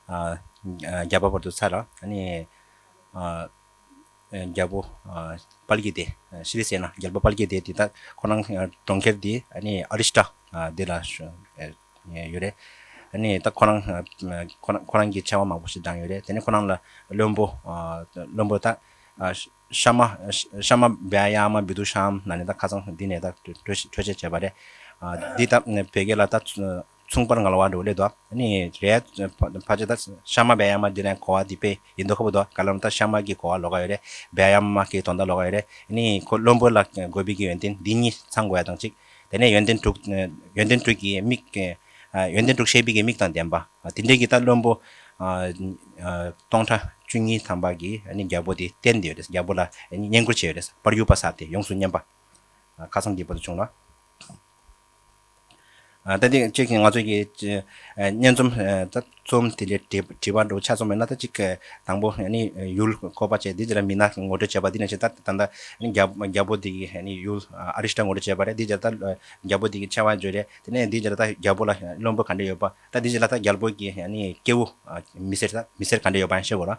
རྒྱ་བབ་བར་དུ་ཚར། རྒྱལ་པོ་དཔལ་གྱི་སྡེ། ཤཱི་ལི་སེ་ན་རྒྱལ་པོ་དཔལ་གྱི་སྡེ་དེ་དག་ཁོ་རང་གྲོང་ཁྱེར་དེ་ཨ་རིས་ཏྲ་དེ་ལ་ཡོད་རེད། ད་ཁོ་རང་ཁོ་རང་གི་ཆེ་བ་མང་པོ་ཞིག་བགྲངས་ཡོད་རེད། དེ་ནས་ཁོ་རང་ལ་བློན་པོ་བློན་པོ་དག། ཤ་མ། ཤ་མ་བེ་ཨ་ཡ་མ་བི་དུ་ཤ་འམ་ན་ནི་ད་ཁ་ཚང་འདི་ནས་ད་གྲོས་བྱེད་བྱས་པ་རེད། འདི་ད་བེ་གེ་ལ་ད་མཚུངས་པར་ང་ལ་བ་འགྲོ་བ་ལེད་དོ། ནི་རེད། ཕ་ཅེ་ད་ཤ་མ་བེ་ཨ་ཡ་མ་འདི་ལན་གོ་བ་འདི་བེ་ཡིན་དོ་ཁ་བུ་དོ་ག་ལམ་ད་ཤ་མ་གི་གོ་བ་ལོ་ག་ཡོད་རེད་བེ་ཨ་ཡ་མ་གི་དོ་ད་ལོ་ག་ཡོད་རེད། ནི་ཁོ་བློན་པོ་ལ་དགོས་བི་གི་ཡོན་ཏན་འདི་གཉིས་ཚང་དགོས་ཡ་དང་ཅིག། དེ་ནས་ཡོན་ཏན་དྲུག། ཡོན་ཏན་དྲུག་གི་མིག། ཡོན་ཏན་དྲུག་ཤེས་པའི་མིག་དང་ལྡན་པ། དེ་འདྲའི་གི་ད་བློན་པོ། སྟོང་ཕྲག་བཅུ་གཉིས་ཐམ་པ་གི་ནི་རྒྱལ་པོ་དེ་བསྟན་ཏེ་ཡོད་རེས་རྒྱལ་པོ་ལ་བསྙེན་བཀུར་བྱས་ཡོད་རེས་པར་གཡུག་པ་ས་སྟེ་ཡོངས་སུ་བསྙེན་པ། ཁ་ཚང་གི་བར་དུ་བྱུང་ལ། ད་ཏི་ཅད་ཀྱིས་ང་ཚོས་ཀྱི། སྙན་རྩོམ། རྩོམ་དེ་འདྲའི་དྲི་བ་འདྲ་བོ་ཆ་ཚང་མེད་ན་ད་ཅིག་དང་པོ་ཡུལ་ཁོ་པ་ཅེས་འདི་ཅི་ར་མིན་ན་ངོ་སྤྲོད་བྱས་པ་འདི་ནས་བྱས་ད་ད་ནས་རྒྱ་བོ་འདི་གིས་ཡུལ་ཨ་རི་སྟ་ངོ་སྤྲོད་བྱས་པ་རེད་འདི་ཅི་ར་ད་རྒྱ་བོ་འདི་གིས་ཆེ་བ་བརྗོད་རེད་དེ་ནས་འདི་ཅི་ར་ད་རྒྱ་བོ་ལ་བླུན་པོ་ག་འདྲ་ཡོད་པ་ད་འདི་ཅི་ར་ད་རྒྱལ་པོ་གིས་སྐྱེ་བོ་མི་སེར་ག་འདྲ་ཡོད་པ་ཤེས་དགོས་ར།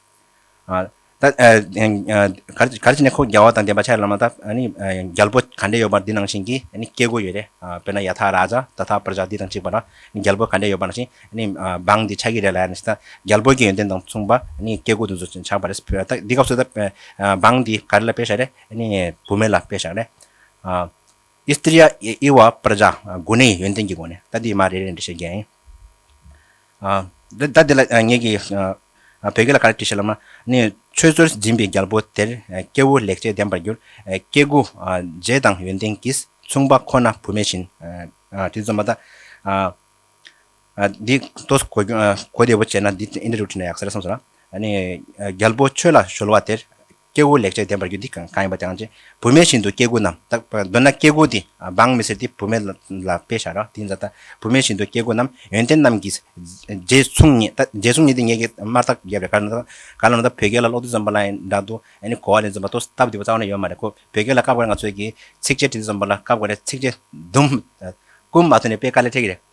གར་བྱེད་ནི་ཁོ་རྒྱལ་བ་དང་ལྡན་པ་ཕྱྭའི་བླ་མ་དང་རྒྱལ་པོ་ག་འདྲས་ཡོད་པར་འདི་ནང་བཞིན་གྱི་སྐྱེ་དགུ་ཡོད་རེད། དཔེར་ན་ཡ་ཐ་ར་ཛཱ་ད་ཐ་པར་ཛཱ་འདི་དང་གཅིག་པ་ན་རྒྱལ་པོ་ག་འདྲས་ཡོད་པ་ནང་བཞིན་འབངས་འདི་ཕྱྭ་གི་རེད་ལ་ཡ་ནས་ད་རྒྱལ་པོ་གྱི་ཡོན་ཏན་དང་མཚུངས་པ་སྐྱེ་དགུ་དུ་ཚོ་ཆགས་པ་རེད། འདི་སྐབས་སུ་ད་འབངས་འདི་ག་རེ་ལ་དཔེ་བཞག་རེད། བུད་མེད་ལ་དཔེ་བཞག་རེད། ཨིསྟི་རཱ་ཨི་ཝ་པར་ཛཱ་དགུ་ནི་ཡོན་ཏན་གྱི་སྒོ་ནས་ད་འདི་མ་རེད་རེད་འདྲི་བྱེད་རྒྱལ་ཡིན། ཟླ་འདི་ལ་ངེད་ཀྱིས་བོད་སྐད་ལ་ག་རེ་བྲིས་ཤེ་ལབ་ན་ནི། ཆོས་རྩོལ་སྦྱིན་པའི་རྒྱལ་པོ་དེར་སྐྱེ་བོ་ལེགས་སྤྱད་ལྡན་པར་འགྱུར། སྐྱེ་དགུ་རྗེས་དང་ཡོན་ཏན་གྱིས་མཚུངས་པ་ཁོ་ན་བུ་མེད་བཞིན། དེ་རྩོམ་པ་དག་འདི་ལྟོས་གོ་བདེ་བོ་བྱས་ན་འདི་ཨིནྡྲ་རུ་བྲིས་ན་ཡག་ཟེར་སོང་ཟེར། རྒྱལ་པོ་ཆོས་ལ་གཞོལ་བ་དེར། སྐྱེ་དགུ་ལེགས་བྱས་ལྡན་པར་གྱུར་འདི་གང་ཡིན་པ་དེའང་ཅི། བུད་མེད་བཞིན་དུ་སྐྱེ་དགུ་རྣམས་དག། འདོད་ན་སྐྱེ་དགུ་འདི་འབངས་མི་སྲིད་དེ་བུད་མེད་ལ་དཔེ་བྱ་རོགས་དེའི་འཛད་ད། བུད་མེད་བཞིན་དུ་སྐྱེ་དགུ་རྣམས་ཡོན་ཏན་རྣམས་ཀྱིས། རྗེ་བཙུན་ཉིད་ད། རྗེ་བཙུན་ཉིད་འདི་ངེད་ཀྱི་དམར་རྟགས་བརྒྱད་པའི་གར། ག་ལ་ན་ད་བོད་སྐད་ལ་ཀློག་དུས་འཛོམས་པ་ལ་ཡང་འདྲ་འདུག་ཨ་ནི་གོ་བ་ལས་འཛོམས་པ་ཏོ་སྟབས་བདེ་བོ་རྩ་བ་ནས་ཡོད་མ་རེད་ཁོ། བོད་སྐད་ལ་སྐབས་འགར་ང་ཚོས་ཀྱིས་ཚིགས་བཅད་བྲིས་འདི་འཛོམས་པ་ལ་སྐབས་འགར་རེད་ཚིགས་བཅད། དུམ། ཀུན་མ་ཐོན་ནས་དཔེ་དཀའ་ལས་འཕྲད་ཀྱི་རེད།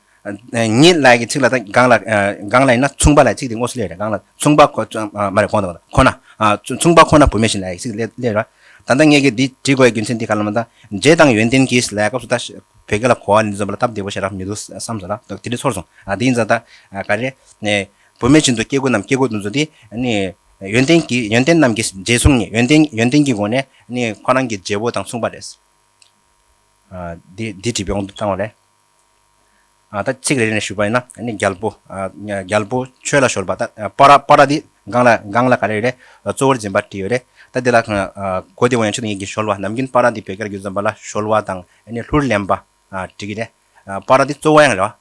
ཉིད་ལགས་ཀྱི་ཚིག་ལ་དང་སྒང་ལ་སྒང་ལ་ཡིན་ན་མཚུངས་པ་ལ་ཚིག་དེ་དངོས་སུ་སླེབས་རེད་སྒང་ལ་མཚུངས་པ་ཁོ་མ་རེད་གོང་དུ་ཁོ་ན་མཚུངས་པ་ཁོ་ན་བུད་མེད་བཞིན་ལ་ཡི་ཚིག་དེ་སླེབས་རེད་ད་ལྟ་ངས་ཀྱི་འདི་བྲིས་དགོས་ཡི་རྒྱུ་མཚན་འདི་ག་ལ་མ་ད་རྗེས་དང་ཡོན་ཏན་གྱིས་ལའི་སྐབས་སུ་ད་བོད་སྐད་ལ་གོ་བ་ནི་འཛོམས་པ་ལ་སྟབས་བདེ་བོ་ཞིག་རག་མི་འདུག་བསམ་སོང་ལ་དེ་འདྲས་ཚོར་སོང་དེ་ཡིན་ཙང་ད་ག་རེ་བུད་མེད་བཞིན་དུ་སྐྱེ་དགུ་རྣམས་སྐྱེ་དགུ་འདུ་འཛོ་འདི་ནི་ཡོན་ཏན་གྱིས་ཡོན་ཏན་རྣམས་ཀྱིས་རྗེས་མཚུངས་ནི་ཡོན་ཏན་ཡོན་ཏན་གྱི་སྒོ་ནས་ནི་ཁོ་རང་གི་རྗེ་བོ་དང་མཚུངས་པ་རེད་འདི་བྲིས་པའི་དབང་དུ་བཏང་བ་ལས། ད་གཅིག་རེ་རེ་ནས་ཞུ་བ་ཡིན་ན་ནི་རྒྱལ་པོ། རྒྱལ་པོ་ཆོས་ལ་ཤོར་བ། པཱ་ར། པཱ་ར་འདི་གང་ལ་གང་ལ་ག་རེ་རེད། གཙོ་བོར་འཛིན་པར་བྲིས་ཡོད་རེད། ད་འདི་ལ། གོ་བདེ་བོ་ཡང་ཆོས་དང་ཡིག་གི་ཤོར་བ། ནམ་རྒྱུན་པཱ་ར་འདི་བོད་སྐད་ལ་རྒྱུད་འཛོམས་པ་ལ་ཤོར་བ་དང་ནི་ལྷུར་ལེན་པ། བྲིས་ཀྱི་རེད། པཱ་ར་འདི་གཙོ་བོ་ཡང་རེད།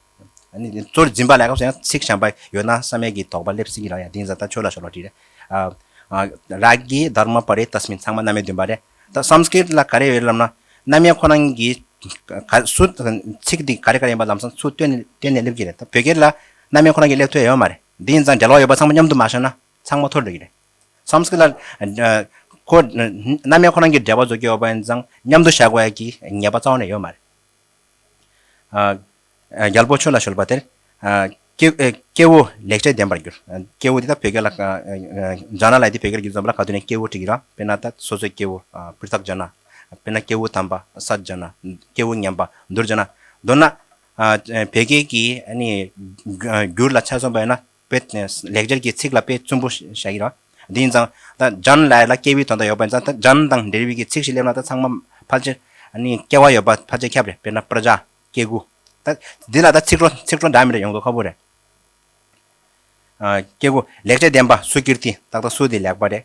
གཙོ་བོར་འཛིན་པ་ལ་སྐབས་སུ་ཡང་ཚིག་བྱམས་པ་ཡོད་ན་བསམ་ཡས་ཀྱི་དོགས་པ་སླེབས་སྲིད་ཀྱི་རང་ཡང་འདི་ཡིན་ཟ་ད་ཆོས་ལ་ཤོར་བ་བྲིས་རེད། རཱ་གི་དར་མ་པཱ་རའི་རྟ་སྨིན་ཚང་མ་རྣམ་མེད་བདུན་པ་རེད། ད་བསམ་གི་ལ་ག་རེ་ཡོད་ལབ་ན་རྣམ་དབྱེ་ཁོ་ན་གི་སུ་ཚིག་འདི་ག་རེ་ག་རེ་ཡིན་པ་ལམ་སང་སུ་བཏོན་ནས་སླེབས་ཀྱི་རེད་ད་བོད་སྐད་ལ་རྣམ་དབྱེ་ཁོ་ན་གི་ལེགས་ཐོས་ཡོད་མ་རེད་འདི་ཡིན་ཙང་འབྲེལ་བ་ཡོད་པ་ཚང་མ་མཉམ་དུ་མ་བཤད་ན་ཚང་མ་འཐོར་འགྲོ་གི་རེད་བསམ་གི་ལ་རྣམ་དབྱེ་ཁོ་ན་གི་འབྲེལ་བ་བཟོ་རྒྱུ་ཡོད་པ་ཡིན་ཙང་མཉམ་དུ་བཞག་དགོས་ཀྱི་ངེས་པ་རྩ་བ་ནས་ཡོད་མ་རེད། རྒྱལ་པོ་ཁྱོད་ལ་གཞོལ་བ་དེར། སྐྱེ་བོ་ལེགས་བྱས་ལྡན་པར་འགྱུར། སྐྱེ་བོ་འདི་དག་བོད་སྐད་ལ། ཇག་ན་ལའི་དེ་བོད་སྐད་ལ་བསྒྱུར་ཙམ་ལ་ག་དུས་ནས་སྐྱེ་བོ་བྲིས་ཀྱི་ར། དཔེར་ན། སོ་སོའི་སྐྱེ་བོ། པིར་ཚག་ཇག་ན། དཔེར་ན། སྐྱེ་བོ་དམ་པ། ས་ཇག་ན། སྐྱེ་བོ་ངན་པ། མདོར་ཇག་ན། མདོར་ན། བོད་སྐད་ཀྱི། བསྒྱུར་ལ་ཆ་མཚོན་པ་ཡོད་ན། པོད། ལེགས་སྦྱར་གྱི་ཚིག་ལ་དཔེ་བཙུན་པོ་བྱ་ཡི་རོ། འདི་ཡིན་ཙང། སྦྱང་ལ་ལ་སྐྱེས་བུའི་དོན་དུ་ཡོད་པ་ཡིན་ཙང་སྦྱང་དང་འབྲེལ་བའི་གྱི་ཚིག་བཞི་སླེབས་ན་ད་ཚང་མ་ཕལ་ཆེར། སྐྱེ་བ་ཡོད་པ་ཕལ་ཆེར་ཁྱབ་རེད་དཔེར་ན་པྲ་ཇཱ། སྐྱེ་དགུ། འདི་ལ་ད་ཚིག་གྲོགས་ཚིག་གྲོགས་འདྲ་མི་འདྲ་ཡོང་དགོས་ཁོ་བོ་རེད། སྐྱེ་དགུ། ལེགས་བྱས་བདེན་པ་སུ་གྱུར་ཏེ་ཏག་ཏག་སུ་དེ་ལེགས་པ་རེད།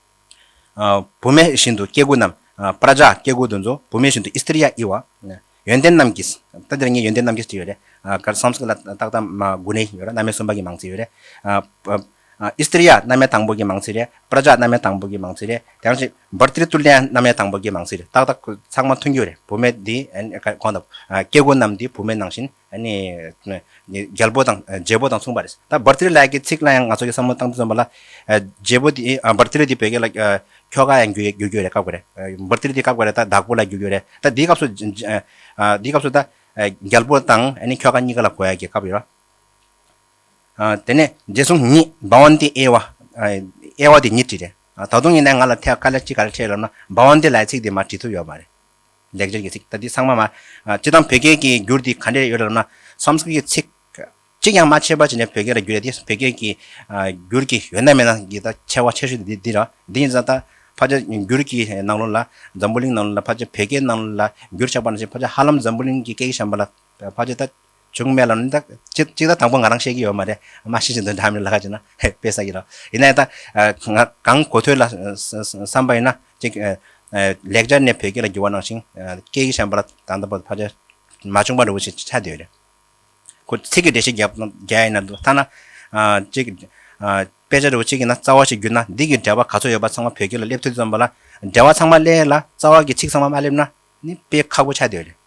བུད་མེད་བཞིན་དུ་སྐྱེ་དགུ་རྣམས། པྲཱཇཱ་སྐྱེ་དགུ་འདུ་འཛོ་བུད་མེད་བཞིན་དུ་ཨིསྟི་རི་ཡ་ཨི་བ། ཡོན་ཏན་རྣམས་ཀྱིས། ད་འདིར་ངས་ཡོན་ཏན་རྣམས་ཀྱིས་ཅེས་ཡོད་རེད། གར་སོང་ཚིག་ལ་རྟགས་དང་མ་དགུ་ནས་ཡོད་རེད་རྣམ་དབྱེ་གསུམ་པ་གྱི་མང་ཚིག་ཡོད་རེད། ཨིསྟི་རི་ཡ་རྣམ་དབྱེ་དང་པོ་གྱི་མང་ཚིག་རེད། པྲཱཇཱ་རྣམ་དབྱེ་དང་པོ་གྱི་མང་ཚིག་རེད། དེ་ཡང་ཅིག་བར་ཏིརི་ཏུ་ལི་ཡ་རྣམ་དབྱེ་དང་པོ་གྱི་མང་ཚིག་རེད་ཏག་ཏག་ཚང་མ་མཐུན་རྒྱུ་རེད་བུད་མེད་འདི་གོང་དང། སྐྱེ་དགུ་རྣམས་འདི་བུད་མེད་ནང་བཞིན། ནི། རྒྱལ་པོ་དང་རྗེ་བོ་དང་མཚུངས་པ་རེད། ད་བར་ཏིལ་ལགས་ཀྱི་ཚིག་ལ་ཡང་ང་ཚོ་གིས་བསམ་བློ་བཏང་དུ་འཛོམས་པ་ལ། རྗེ་བོ་དེ་བར་ཏིལ་འདི་བོད་སྐད་ལ་ཁྱོ་ག་ཡང་བརྒྱུད་རྒྱུ་རེད་བཀག་དགོས་རེད། བར་ཏིལ་འདི་བཀག་པ་རེད་ད་བདག་པོ་ལ་བརྒྱུད་རྒྱུ་རེད་ད་འདིའི་སྐབས་སུ། འདིའི་སྐབས་སུ་ད་རྒྱལ་པོ་དང་ཁྱོ་ག་གཉིས་ཀ་ལ་གོ་ཡ་གི་སྐབས་ཡོད་ར། དེ་ནས་རྗེས་སུ་ཉིད་འབའ་བ་འདི་ཨེ་ཨེ་བ་འདི་ཉིད་བྲིས་རེད། ད་དུང་ཡིན་ན་ཡང་ང་ལ་ཐད་ཀར་ལས་ཅི་ག་རེ་ཕྲད་ལབ་ན་འབའ་བ་འདི་ལ་ཡི་ཚིག་འདི་མ་བྲིས་ཐུབ་ཡོད་མ་རེད། ལེགས་སྦྱར་གྱི་ཚིག་ལྟ་དུས་ཚང་མ། སྤྱིར་བཏང་བོད་སྐད་ཀྱི་འགྱུར་དེ་ག་འདྲས་ཡོད་རབས་ན། Sanskrit གྱི་ཚིག་གཅིག་ཀྱང་མ་ཕྱེས་པར་བྱས་ནས་བོད་སྐད་ལ་བསྒྱུར་ཡ་དེ་བོད་སྐད་ཀྱི་འགྱུར་གྱི་ཡོད་ན་མེད་ན་གྱི་ད་ཆ་བ་ཆེ་ཤོས་དེ་འདི་རེད། དེ་ཡིན་ཟ་ད་ཕ་ཆ་འགྱུར་གྱི་ནང་ལོ་ལ་འཛམ་བུ་གླིང་ནང་ལོ་ལ་ཕ་ཆ་བོད་སྐད་ནང་ལོ་ལ་འགྱུར་ཆགས་པ་ན་བཞིན་ཕ་ཆ་ཧ་ལམ་འཛམ་བུ་གླིང་གི་སྐད་ཀྱི་བྱམས་པ་ལ་ཕ་ཆ་ད། བྱུང་མེད་ལ། གཅིག་ད་དང་པོ་ང་རང་བཤད་ཀྱི་ཡོད་མ་རེད། མ་ཤེས་ཀྱི་འདོན་གྲ་མེད་ལ་ཁ་ཅིག་ན་དཔེ་ཟ་གི་རོགས། ཡིན་ན་ད་ང་གང་གོ་ཐོས་ལ་བསམ་པ་ཡིན་ན། གཅིག་ལེགས་སྦྱར་ནས་བོད་སྐད་ལ་བསྒྱུར་བ་གནང་ཞིང། སྐད་ཡིག་གཞན་པ་ལ་ད་ལྟ་བར་ཕར་ཆེར་མ་བྱུང་བ་རེ་བོ་ཞིག་ཆགས་བསྡད་ཡོད་རེད། ཁོ་ཚིག་གི་འགྲེལ་བཤད་རྒྱ་ཡིན་ན་འདུག་ཐ་ན། གཅིག་དཔེ་ཆ་རེ་བོ་ཆེ་གི་ན་རྩ་བ་ཞིག་བསྒྱུར་ན་འདི་གི་འགྲེལ་བ་ག་ཚོད་ཡོད་པ་ཚང་མ་བོད་སྐད་ལ་སླེབས་ཐུབ་ཙམ་པ་ལ། འགྲེལ་བ་ཚང་མ་སླེ་ལ་རྩ་བ་གི་ཚིག་ཚང་མ་མ་སླེབས་ན་ནི་དཔེ་ཁག་པོ་ཆགས་བསྡད་ཡོད་རེད།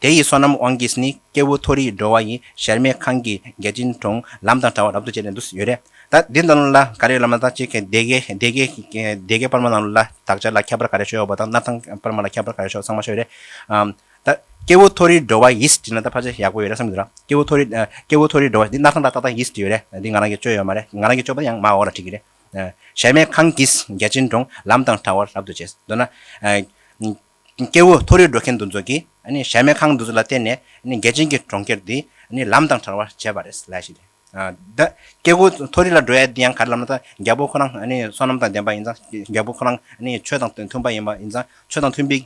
དེ་ཡི་སོ་ནམ་དབང་གིས་ནི་སྐྱེ་བོ་མཐོ་རིས་འགྲོ་བ་ཡི་ཞལ་མེད་ཁང་གི་རྒྱལ་ཆེན་གྲོང་ལམ་དང་བྲ་བ་རབ་ཏུ་བཅད་ནས་འདུག་ཡོད་རེད་ད། འདི་ལྟ་བུ་ལ་ག་རེ་ལབ་ན་ད་ཅི་སྡེ་དགེ་སྡེ་དགེ་སྡེ་དགེ་སྤར་མ་རྣམས་ལ་དག་ཆ་ལ་ཁྱད་པར་ག་རེ་ཤོ་ཡོག་པ་དང་སྣར་ཐང་སྤར་མ་ལ་ཁྱད་པར་ག་རེ་ཤོག་ཚང་མ་ཤོ་རེད་ཨང། ད། སྐྱེ་བོ་མཐོ་རིས་འགྲོ་བ་ཡིས་བྲིས་ན་ད་ཕ་ཆ་ཡག་པོ་ཡོད་རེད་བསམ་གི་འདུག་ར་སྐྱེ་བོ་མཐོ་རིས་སྐྱེ་བོ་མཐོ་རིས་འགྲོ་བ་ཡིས་འདི་སྣར་ཐང་ཏག་ཏག་ཏག་ཡིས་བྲིས་ཡོད་རེད་འདི་ང་རང་གིས་བཅོས་ཡོད་མ་རེད་ང་རང་གིས་བཅོས་པ་ཡང་མ་འོངས་ལ་བྲིས་ཀྱི་རེད། ཞལ་མེད་ཁང་གིས་རྒྱལ་ཆེན་གྲོང་ལམ་དང་བྲ་བ་རབ་ཏུ་བཅད་འདོད་ན། སྐྱེ་བོ་མཐོ་རིས་འགྲོ་མཁན་འདུ་འཛོ་གིས་གཞལ་མེད་ཁང་འདུ་འཛོ་ལ་བརྟེན་ནས་རྒྱལ་ཆེན་གྱི་གྲོང་ཁྱེར་འདི་ལམ་དང་བྲལ་བར་བྱས་པ་རེད་ལ་ཞིག་ལས། སྐྱེ་བོ་མཐོ་རིས་ལ་འགྲོ་ཡ་འདི་ཡང་ག་རེ་ལབ་ན་ད་རྒྱལ་པོ་ཁོ་རང་བསོད་ནམས་དང་ལྡན་པ་ཡིན་ཙང་རྒྱལ་པོ་ཁོ་རང་ཆོས་དང་མཐུན་པ་ཡིན་པ་ཡིན་ཙང་ཆོས་དང་མཐུན་པའི་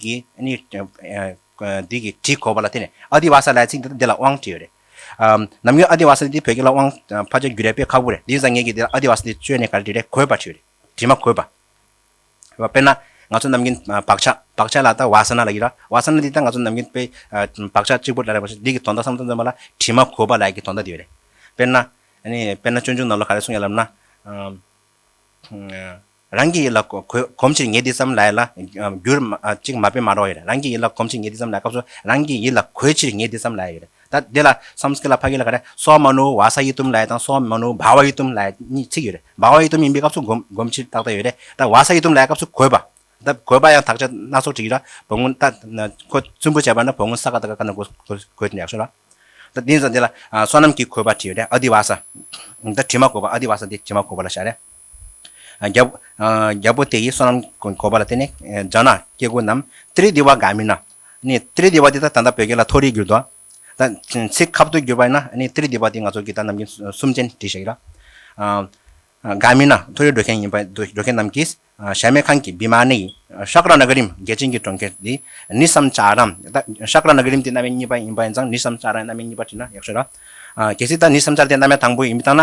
འདི་གི་བྲིས་གོ་བ་ལ་བརྟེན་ནས་ཨ་དི་བ་ས་ལའི་ཚིག་འདི་ལ་དབང་བྲིས་ཡོད་རེད། ནམ་རྒྱུན་ཨ་དི་བ་ས་འདི་བོད་སྐད་ལ་དབང་ཕ་ཆ་རྒྱུ་རས་པས་ཁག་པོ་རེད་འདི་ཡིན་ཙང་ངེད་ཀྱིས་འདི་ལ་ཨ་དི་བ་ས་འདི་བཅོས་ནས་ག་རེ་བྲིས་རས་གོ་བ་བྲིས་ཡོད་རེད་བྲིས་མ་གོ་བ། དཔེར་ན། ང་ཚོ་ནམ་རྒྱུན་བག་ཆགས་བག་ཆགས་ལ་ལྟ་བ་སཱ་ན་ལ་ཡིད་ར། བ་སཱ་ན་འདི་ལྟར་ང་ཚོ་ནམ་རྒྱུན་དཔེ། བག་ཆགས་གཅིག་པུར་ལ་རེག་པ་ཞིག་འདི་གི་དོན་དག་སམ་དོན་སྟོན་པ་ལ་དྲི་མ་གོ་བ་ལ་ཡི་གེ་དོན་དག་འདི་ཡོད་རེད། དཔེར་ན། དཔེར་ན་སྤྱོད་འཇུག་ནང་ལ་ག་རེ་གསུངས་ཡོད་ལབ་ན། རང་གི་ཡིད་ལ་གོམས་ཕྱིར་ངས་འདི་ཙམ་ལ་ཡིད་ལ། འགྱུར། གཅིག་མ་དཔེ་མ་རོགས་ཡོད་རེད་རང་གི་ཡིད་ལ་གོམས་ཕྱིར་ངས་འདི་ཙམ་ལ་ཡིད་ལ་སྐབས་སུ་རང་གི་ཡིད་ལ་གོས་ཕྱིར་ངས་འདི་ཙམ་ལ་ཡིད་ལ་ཡོད་རེད། ད་འདི་ལ་སམ་སྐི་ལ་བྷ་གི་ལ་ག་རེ་སོ་མ་ནུ་བ་ས་ཡི་ཏུམ་ལའེ་དང་སོ་མ་ནུ་བ་བ་ཡི་ཏུམ་ལའེ་གཉིས་ཚིག་ཡོད་རེད། བ་བ་ཡི་ཏུམ་ཡིན་པའི་སྐབས་སུ་སྒོམ་ཕྱིར་རྟགས་དེ་ཡོད་རེད་ད་བ་ས་ཡི་ཏུམ་ལའེ་སྐབས་སུ་གོས་པ། ད་གོས་པ་ཡང་དག་ཆ་སྣ་ཚོགས་བྲིས་ཡོད་ར་བུ་ངོ་ད་ཁོ་བཙུན་པོ་བྱས་པ་ན་བུ་ངོ་ས་ག་ད་ག་ག་ན་གོས་གོས་ཡག་ཤོས་ར། ད་འདི་ལ་འདི་ལ་བསོད་ནམས་ཀྱིས་གོས་པ་བྲིས་ཡོད་རེད་ཨ་དི་བ་ས། ད་དྲི་མ་གོས་པ་ཨ་དི་བ་ས་འདི་དྲི་མ་གོས་པ་ལ་བྱ་རེད། རྒྱལ་པོ་དེ་ཡིས་བསོད་ནམས་གོས་པ་ལ་བརྟེན་ནས་འཇག་ན་སྐྱེ་དགུ་རྣམས་ཏི་རི་དི་བ་དགའ་མིན་ན་ནི་ཏིརི་དི་བ་ཏི་ད་ད་ལྟ་བོད་སྐད་ལ་མཐོ་རིས་གྱུར་འདུག་ད། ཚིག་ཁབ་ཏུ་གྱུར་པ་ཡིན་ན་ནི་ཏིརི་དི་བ་ཏི་ང་ཚོ་གིས་ད་ནམ་གྱི་གསུམ་ཅན་བྲིས་ཤག་ཡིན་ལ། འགའ་མིན་ན་མཐོ་རིས་འགྲོ་མཁན་ཡིན་པ་འདུག་འགྲོ་མཁན་རྣམས་ཀྱིས་ཞལ་མེད་ཁང་གི་བི་མ་ནི་ཡིན། ཤ་ཀ་ར་ན་གི་རིམ་རྒྱལ་ཅན་གྱི་གྲོང་ཁྱེར་འདི་ནི་སམ་ཅཱ་རམ། ད། ཤ་ཀ་ར་ན་གི་རིམ་དེ་གནའ་བའི་གཉིས་པ་ཡིན་པ་ཡིན་ཙང་ནི་སམ་ཅཱ་རའི་གནའ་མའི་གཉིས་པ་བྲིས་ན་ཡག་ཤོས་ར། གལ་སྲིད་ད་ནི་སམ་ཅཱ་ར་དེ་གནའ་མའི་དང་པོ་ཡིན་མི་ཐང་ན།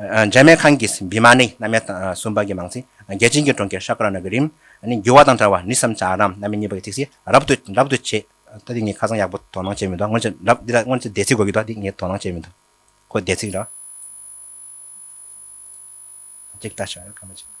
འཇར་མན་ཁང་གིས་བི་མ་ནི་གནམ་ཡ་དང་སུམ་པ་གྱི་མང་ཚིག་རྒྱལ་ཆེན་གྱི་གྲོང་ཁྱེར་ཤཱ་ཀ་ར་ན་གི་རིམ་ནི་འགྱུར་བ་དང་བྲལ་བ་ནི་བསམ་བྱ་རམ་གནམ་ཡ་གཉིས་པ་གྱི་ཚིག་བཤད་རབ་ཏུ་རབ་ཏུ་བྱེད། ད་འདི་ངས་ཁ་སང་ཡག་པོ་དོ་སྣང་བྱས་མི་འདུག་སྔོན་ཆད་རབ་འདི་ལ་སྔོན་ཆད་བརྡས་ཚིག་དགོས་ཀྱི་འདུག་འདི་ངས་དོ་སྣང་བྱས་མི་འདུག་ཁོ་བརྡས་ཚིག་འདྲ། ཅིག་ལྟ་ཞོག་ཡ་སྐར་མ་ཅིག།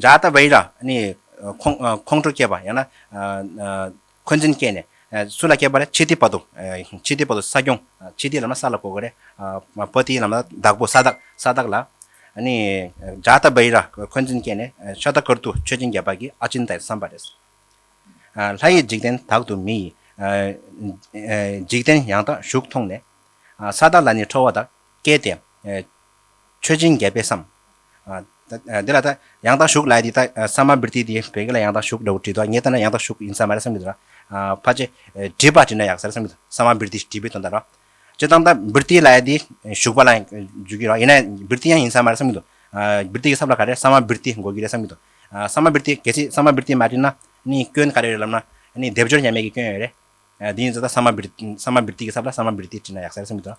འཇའ་ཟླ་བྷེ་ར་ནི་ཁོང་ཁྲོ་སྐྱེས་པ་ཡང་ན་འཁོན་འཛིན་སྐྱེས་ནས་སུ་ལ་སྐྱེས་པ་རེད་ཆི་ཏི་བ་དུ། ཆི་ཏི་བ་དུ་ས་སྐྱོང་ཆི་ཏི་ལ་མ་ས་ལ་གོ་གི་རེད། བ་ཏི་ལ་མ་བདག་པོ་ས་བདག་ས་བདག་ལ། འཇའ་ཟླ་བྷེ་ར་འཁོན་འཛིན་སྐྱེས་ནས་ཤ་ད་ཀར་དུ་མཆོད་སྦྱིན་བརྒྱབ་པ་གིས་ཨ་ཅིན་ཏའི་བསམ་པ་རེད། ལྷ་ཡི་འཇིག་རྟེན་དག་ཏུ་མི་ཡི་འཇིག་རྟེན་ཡང་དག་བཞུགས་མཐོང་ནས། ས་བདག་ལ་ནི་ཁྲོ་བ་དག། སྐྱེས་ཏེ། མཆོད་སྦྱིན་རྒྱས་པས་སམ། འདི་ལ་ད་ཡང་དག་ཞུགས་ལས་འདི་ད་ས་མ་བིར་ཏི་དེས་བོད་སྐད་ལ་ཡང་དག་ཞུགས་འདྲ་བོ་བྲིས་འདུག་ངས་བལྟས་ན་ཡང་དག་ཞུགས་ཡིན་ས་མ་རེད་བསམ་གྱི་འདུག་ལ། ཕ་ཅེ། བྲིས་པ་བྲིས་ན་ཡག་ས་རེད་བསམ་གྱི་འདུག་ས་མ་བིར་ཏི་བྲིས་པའི་དོན་ད་རོ། སྤྱིར་བཏང་ད་བིར་ཏི་ལས་འདི་ཞུགས་པ་ལ་འཇུག་གི་རོགས་ཡིན་ན་བིར་ཏི་ཡང་ཡིན་ས་མ་རེད་བསམ་གྱི་འདུག་བིར་ཏི་གི་ཚབ་ལ་ག་རེ་ས་མ་བིར་ཏི་འགོད་ཀྱི་རེད་བསམ་གྱི་འདུག་ས་མ་བིར་ཏི་གལ་སྲིད་ས་མ་བིར་ཏི་མ་བྲིས་ན་ནི་སྐྱོན་ག་རེ་རེད་ལབ་ན་ནི་སྡེབ་སྦྱོར་ཉམས་མེད་ཀྱི་སྐྱོན་ཡོད་རེད། དེ་ཡིན་ཚོད་ད་ས་མ་བིར་ཏི་གི་ཚབ་ལ་ས་མ་བིར་ཏི་བྲིས་ན་ཡག་ས་རེད་བསམ་གྱི་འདུག།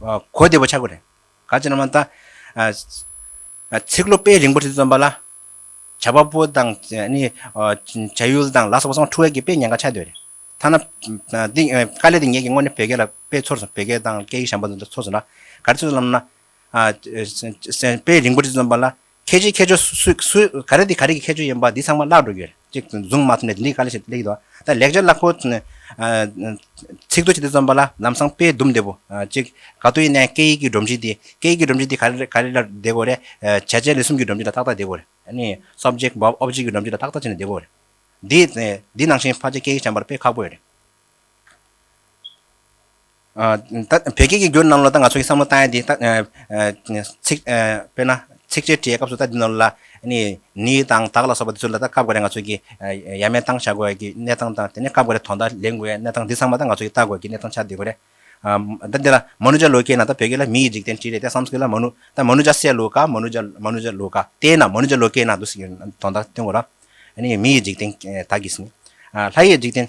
གོ་བདེ་བོ་ཆགས་དགོས་རེད། ག་ཅེ་ན་མ་ད། ཚིག་ལོ་དཔེ་རིང་པོ་དེ་བརྩོན་པ་ལ། བྱ་བ་པོ་དང། བྱ་ཡུལ་དང་ལ་སོགས་པ་སོང་འཁྲུལ་བ་གྱིས་དཔེ་ཉེན་ཁ་ཆགས་སྡོད་རེད། ཐ་ན། དཀའ་ལས་དེ་ངེད་ཀྱིས་སྔོན་ནས་བོད་སྐད་ལ་དཔེ་ཚོར་སོང་བོད་སྐད་དང་སྐད་ཡིག་ཞན་པ་འདི་འདྲ་ཚོར་སོང་ན། ག་རེ་ཚོད་ལབ་ན། དཔེ་རིང་པོ་དེ་བརྩོན་པ་ལ། ཁྱེད་ཀྱི་ཁྱད་ཆོས་སུས། ག་རེ་འདི་ག་རེ་གི་ཁྱད་ཆོས་ཡིན་པ་འདི་ཚང་མ་བརླག་འགྲོ་གི། ཅིག་བཟུང་མ་ཐུབ་ནས་འདི་འདི་ག་ལ་བྱེད་ལེགས་འདུག་ད་ལེགས་སྦྱར་བཀླག་པོ། ཚིག་ཏུ་བྱས་ཏེ་རྩོམ་པ་ལ་ལམ་སང་དཔེ་བསྡུམས་བདེ་པོ། ཅིག་ག་དུས་ཡིན་ནའི་སྐད་ཡིག་གི་སྒྲོམ་གཞི་འདི། སྐད་ཡིག་གི་སྒྲོམ་གཞི་འདི་ག་རེ་ག་རེ་ལ་བདེ་དགོས་རེད། བྱས་རྗེས་ལས་གསུམ་གྱི་སྒྲོམ་གཞི་ལ་ཏག་ཏག་བདེ་དགོས་རེད། ནི། Subject Verb Object གི་སྒྲོམ་གཞི་ལ་ཏག་ཏག་བྱས་ནས་བདེ་དགོས་རེད། འདི། འདི་ནང་བཞིན་ཕར་ཆེར་སྐད་ཡིག་སྦྱངས་པར་དཔེ་ཁག་པོ་ཡོད་རེད། བོད་སྐད་ཀྱི་འགྱུར་རྣམས་ལ་ད་ང་ཚོ་གིས་བསམ་བློ་བཏང་ཡས་དེ། དཔེར་ན། ཚིགས་བཅད་བྲིས་ཡས་སྐབས་སུ་ད་འདི་རྣམས་ལ། ནི་དང་དག་ལ་སོགས་པ་འདི་ཚོ་ལ་ད་སྐབས་འགར་རེ་ང་ཚོ་གིས་ཡ་མེད་སྟངས་བྱ་དགོས་ཡས་ཀྱི་གནས་སྟངས་དང་དེ་ནས་སྐབས་འགར་རེ་དོ་ཟླ་ལེན་དགོས་ཡས་གནས་སྟངས་འདི་ཚང་མ་ད་ང་ཚོ་གིས་ལྟ་དགོས་ཡས་ཀྱི་གནས་སྟངས་ཆགས་བསྡད་དགོས་རེད། ད་འདི་ལ་མཱ་ནུ་ཇཱ་ལོ་ཀའི་ནང་ད་བོད་སྐད་ལ་མི་ཡི་འཇིག་རྟེན་བྲིས་རེད་ད་སམ་སྐད་ལ་མཱ་ནུ། ད་མཱ་ནུ་ཇཱ་སེ་ལོ་ཀ་མཱ་ནུ་ཇཱ་མཱ་ནུ་ཇཱ་ལོ་ཀ་ཏའི་ནང་མཱ་ནུ་ཇཱ་ལོ་ཀའི་ནང་དུ་ཟེར་གྱི་ཡོད་དོ་ཟླ་སྟོན་དགོས་ར། མི་ཡི་འཇིག་རྟེན་དག་གིས། ལྷ་ཡི་འཇིག་རྟེན།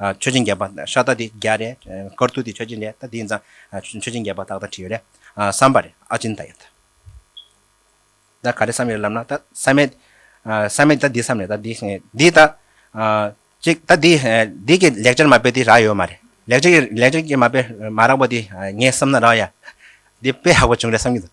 མཆོད་སྦྱིན་རྒྱས་པ་ཤ་སྟག་དེ་བརྒྱ་རེ། དཀར་ཐུག་དེ་མཆོད་སྦྱིན་རེ་ད་དེ་ཡིན་ཙང། མཆོད་སྦྱིན་རྒྱས་པ་ཏག་ཏག་བྲིས་ཡོད་རེད་བསམ་པ་རེད་ཨ་ཅིན་ད་ཡོད། ད་ག་རེ་བསམ་ཡོད་ལབ་ན་ད་བསམ་མེད། བསམ་མེད་ད་འདི་བསམ་རེད་ད་འདི་འདི་ད། ཅིག་ད་འདི་འདི་གི་ལེགས་སྦྱར་མ་དཔེ་དེ་རག་ཡོད་མ་རེད། ལེགས་སྦྱར་ལེགས་སྦྱར་གྱི་མ་དཔེ་མ་རག་པ་དེ་ངས་བསམ་ན་རག་ཡ། འདི་དཔེ་ཧག་པོ་བྱུང་རེད་བསམ་གྱི་འདུག།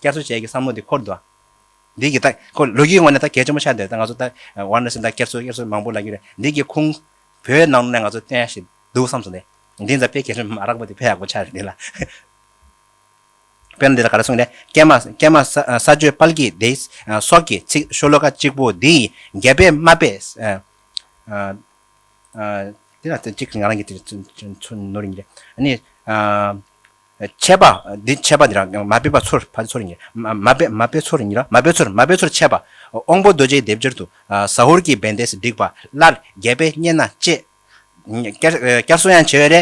རྒྱ་མཚོ་བཅས་ཀྱི་བསམ་བློ་འདི་འཁོར་འདུག། འདི་གི་ད་ཁོ་ལོ་རྒྱུས་ངོས་ནས་ད་གལ་ཆེན་པོ་ཆགས་འདུག་ད་ང་ཚོ་ད་ཝར་ན་སེམས་ད་སྐྱེར་ཚུལ་གཡེར་ཚུལ་མང་པོ་ལབ་ཀྱི་རེད་འདི་གི་ཁུང་བོད་ནང་ནས་ང་ཚོ་སྟོན་ཡ་ཞིག་འདུག་བསམ་སོང་ལེ། འདི་འཛམ་དཔེ་གལ་ཆེན་མ་རག་པོ་འདི་ཕལ་ཡག་པོ་ཆགས་རེད་འདི་ལ། དཔེར་ན་འདི་ལ་ག་རེ་གསུངས་ལེ་ཀྱེ་མ་ཀྱེ་མ་ས་ས་ཆོས་དཔལ་གྱིས་འདི་སོགས་ཀྱི་ཚིག་ཤོ་ལོ་ཀ་གཅིག་པོ་འདི་ཡི་རྒྱ་དཔེ་དམའ་དཔེ། འདི་ལ་གཅིག་ང་རང་གི་ཚོ་ནོར་ཡིན་རེད། ཆད་པ། འདི་ཆད་པ་འདི་ར་མ་དཔེ་པ་ཚོར་བ་ཚོར་ཉིད། མ་དཔེ་མ་དཔེ་ཚོར་ཉིད་ར་མ་དཔེ་ཚོར་མ་དཔེ་ཚོར་ཆད་པ། དབང་པོ་རྡོ་རྗེའི་སྡེབ་སྦྱར་དུ། ཟ་ཧོར་གྱི་བན་དེས་བསྒྲིགས་པ་སླར་རྒྱལ་པས་རྙེད་ན་གཅེས། བསྐྱར་གསོ་ཡང་བྱེད་པའི་རེ།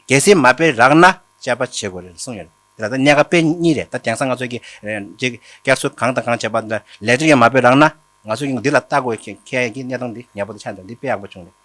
གལ་སྲིད་མ་དཔེ་རག་ན་དཔྱད་པ་བྱེད་དགོས་རེད་གསུངས་ཡོད། འདི་ལ་ད་གནད་ཀ་དཔེ་གཉིས་རེད་ད་དེང་སང་ང་ཚོས་ཀྱི། བསྐྱར་གསོ་གང་དང་གང་བྱས་པ་ལས་ལེགས་གྲས་ཀྱང་མ་དཔེ་རག་ན། ང་ཚོས་ཀྱི་འདི་ལ་བལྟ་དགོས་མཁན་གྱི་གནད་དོན་འདི་ངེས་པོ་དེ་ཆགས་འདུག་འདི་དཔེ་ཡག་པོ་བྱུང་རེད།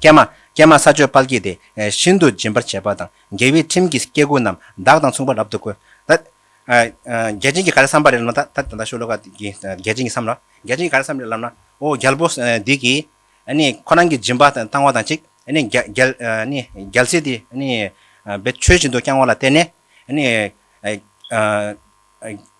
ཀྱེ་མ། ཀྱེ་མ་ས་ཆོས་དཔལ་བསྐྱེད་དེ། ཤིན་ཏུ་སྦྱིན་པར་བྱེད་པ་དང། རྒྱལ་བའི་ཁྲིམས་ཀྱིས་སྐྱེ་དགུ་རྣམས། བདག་དང་མཚུངས་པར་རབ་ཏུ་བཀོད། རྒྱལ་ཆེན་གྱིས་ག་རེ་བསམས་པ་རེད་ལབ་ན། ད་ལྟ་ཤོ་ལོ་ཀ་འདིས་རྒྱལ་ཆེན་གྱིས་བསམས་ལ། རྒྱལ་ཆེན་གྱིས་ག་རེ་བསམས་རེད་ལབ་ན། ཨོ་རྒྱལ་པོ་འདི་གིས། ཁོ་རང་གི་སྦྱིན་པ་བཏང་བ་དང་གཅིག། རྒྱལ་སྲིད་དེ། བེད་སྤྱོད་བཞིན་དུ་བསྐྱངས་བ་ལ་བརྟེན་ནས།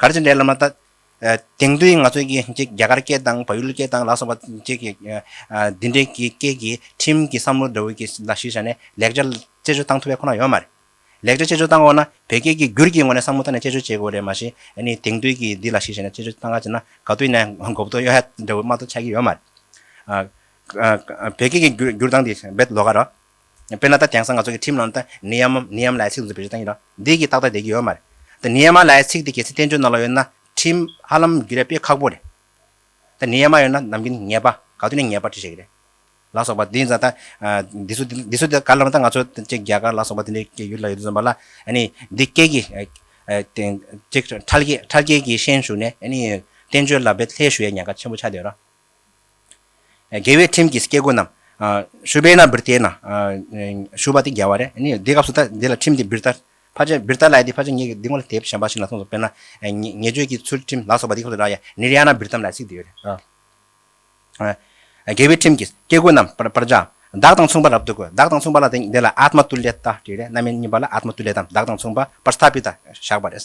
གར་སྤྱི་འགྲེ་ལམ་ལ་ལྟ། དེང་དུས་ང་ཚོས་ཀྱི་གཅིག་རྒྱ་གར་སྐད་དང་བ་ཡུལ་སྐད་དང་ལ་སོགས་པ་གཅིག་གི། འདི་འདྲའི་གི་སྐད་ཀྱི་ཁྲིམས་ཀྱི་བསམ་བློ་འདྲ་བོ་གྱི་ལ་གཞིགས་བྱས་ནས་ལེགས་ཆ་དཔྱད་བརྗོད་བཏང་ཐུབ་པའི་ཁོ་ན་ཡོད་མ་རེད། ལེགས་ཆ་དཔྱད་བརྗོད་བཏང་འོག་ན་བོད་སྐད་ཀྱི་འགྱུར་གྱི་ངོ་ནས་བསམ་བློ་བཏང་ནས་དཔྱད་བརྗོད་བྱེད་དགོས་རེད་མ་གཞི་ནི་དེང་དུས་ཀྱི་འདི་ལ་གཞིགས་བྱས་ནས་དཔྱད་བརྗོད་བཏང་ག་བྱས་ན་ག་དུས་ནས་གོ་བདོ་གཡོ་ཧད་འདྲ་བོ་མ་གཏོགས་ཆགས་ཀྱི་ཡོད་མ་རེད། བོད་སྐད་ཀྱི་འགྱུར་སྟངས་འདི་རྦད་ལོ་ག་རེད། དཔེར་ན་ད་དེང་སང་ང་ཚོ་གི་ཁྲིམས་ནང་དུ་ནི་ཡ་མ་ནི་ཡ་མ་ལའི་ཚིག་འདི་ཚོ་བེད་སྤྱོད་བཏང་ཡོད་རང་འདི་གི་ཏག་ཏག་བསྡད་ཀྱི་ཡོད་མ་རེད་ད་ནི་ཡ་མ་ལའི་ཚིག་འདི་གལ་སྲིད་བསྟན་བཅོས་ནང་ལ་ཡོད་ན་ཁྲིམས་ཧ་ལམ་རྒྱུད་རད་དཔེ་ཁག་པོ་རེད་ད་ནི་ཡ་མ་ཡོད་ན་ནམ་གིན་ངེས་པ་ག་དུས་ནས་ངེས་པར་བྲི་བྱེད་ཀྱི་རེད་ལ་སོགས་པ་འདི་ཛ་ད་འདི་ཚོ་འདི་ཚོ་ད་ག་ལ་ལ་ད་ང་ཚོ་བཅས་རྒྱ་གར་ལ་སོགས་པ་འདི་འདྲའི་ཡུལ་ལ་ཡོད་དུས་ཙམ་པ་ལ་ནི་འདི་སྐད་ཀྱི་ཁྲལ་རྒྱལ་ཁྲལ་རྒྱལ་གྱི་ཤན་ཞུགས་ནས་ནི་བསྟན་བཅོས་ལ་བེད་ལྷད་ཞུ་ཡ་ཉན་ཁ་ཆེན་པོ་ཆགས་བསྡད་ཡོད་རང། རྒྱལ་བའི་ཁྲིམས་ཀྱིས་སྐྱེ་དགུ་རྣམས། ཤུ་བེ་ན་བིར་ཏའི་ན། ཤུ་བ་དེ་རྒྱལ་བ་རེད། དེ་སྐབས་སུ་ད་འདི་ལ་ཁྲིམས་དེ་བིར་ཏཱ། བྷ་ཇ་བིར་ཏཱ་ལ་ཡ་དེ་བྷ་ཇ་ངེད་ཀྱིས་འདི་སྔོན་ལ་དེབ་གཞན་པ་ཞིག་ན་གསུངས་སོ་དཔེར་ན། ངེད་ཆོས་ཀྱི་ཚུལ་ཁྲིམས་ལ་སོགས་པ་འདི་སྐབས་སུ་ར་ཡ་ནིར་ཡ་ན་བིར་ཏཱམ་ལ་ཚིག་འདི་ཡོད་རེད། རྒྱལ་བའི་ཁྲིམས་ཀྱིས་སྐྱེ་དགུ་རྣམས། པར་བྱ། བདག་དང་མཚུངས་པར་རབ་ཏུ་དགོད། བདག་དང་མཚུངས་པ་ལ་དེ་འདི་ལ་ཨཱཏྨ་ཏུ་ལེ་ཏཱ་བྲིས་རེད། རྣམ་སྨིན་གཉིས་པ་ལ་ཨཱཏྨ་ཏུ་ལེ་ཏཱམ་བདག་དང་མཚུངས་པ་པར་སྟྷ་པི་ཏཱ་བཞག་པ་རེད།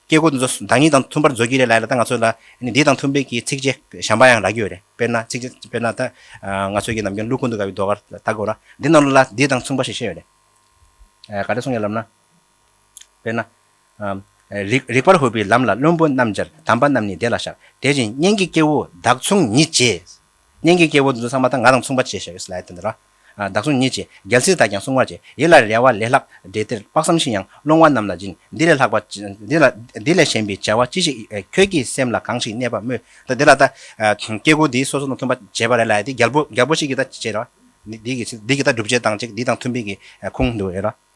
སྐད་སྐུར་འདི་ཚོ་བདག་ཉིད་དང་མཐུན་པར་མཛོད་ཀྱི་རེད་ལ་ད་ང་ཚོས་ལ་འདི་དང་མཐུན་པའི་གི་ཚིགས་བཅད་གཞན་པ་ཡང་རག་གི་ཡོད་རེད་དཔེར་ན་ཚིགས་བཅད་དཔེར་ན་ད་ང་ཚོས་ཀྱི་ནམ་རྒྱུན་ཀླུ་ཀུན་ཏུ་དགའ་བའི་ཟློས་གར་ལྟ་དགོས་ལ་འདི་རྣམས་ལ་ལ་འདི་དང་མཚུངས་པ་ཞིག་བཤད་ཡོད་རེད། ག་རེ་གསུངས་ཡོད་ལབ་ན། དཔེར་ན། རིགས་རིགས་པར་ཧུར་པའི་ལམ་ལ་བློན་པོ་རྣམས་སྦྱར་དམ་པ་རྣམས་ནི་བདེ་ལ་བཞག་དེ་བཞིན་གཉེན་གྱི་སྐྱེ་བོ་བདག་མཚུངས་ཉིད་ཅེས། གཉེན་གྱི་སྐྱེ་བོ་འདི་ཚོ་ཚང་མ་ད་ང་དང་མཚུངས་པ་བྱས་ཞེས་པའི་སླད་དུ་འདི་ར། བདག་བཟུང་ཉིད་ཀྱིས་རྒྱལ་སྲིད་དག་ཀྱང་བསྲུང་བར་བྱེད་ཡིད་ལ་རེ་བ་ལས་ལྷག་འདྲེ་སྟེར་དཔག་བསམ་ཤིང་ཡང་སློང་བ་རྣམས་ལ་སྦྱིན་འདི་ལས་ལྷག་པ་འདི་ལས་གཞན་པའི་བྱ་བ་ཅི་ཞིག་ཁྱོད་ཀྱི་སེམས་ལ་གང་ཞིག་གནས་པར་སྨོས། འདི་ལ་ད་སྐྱེ་དགུ་འདིས་སོ་སོ་ནས་མཐུན་པ་བྱས་པ་རེ་ལ་ཡ་དེ་རྒྱལ་པོ་ཞིག་གིས་ད་བྱས་ར། འདི་གིས་ད་སྒྲུབ་བྱེད་དང་ཅིག་འདི་དང་མཐུན་པའི་གི་ཁུངས་འདི་རེ་ར།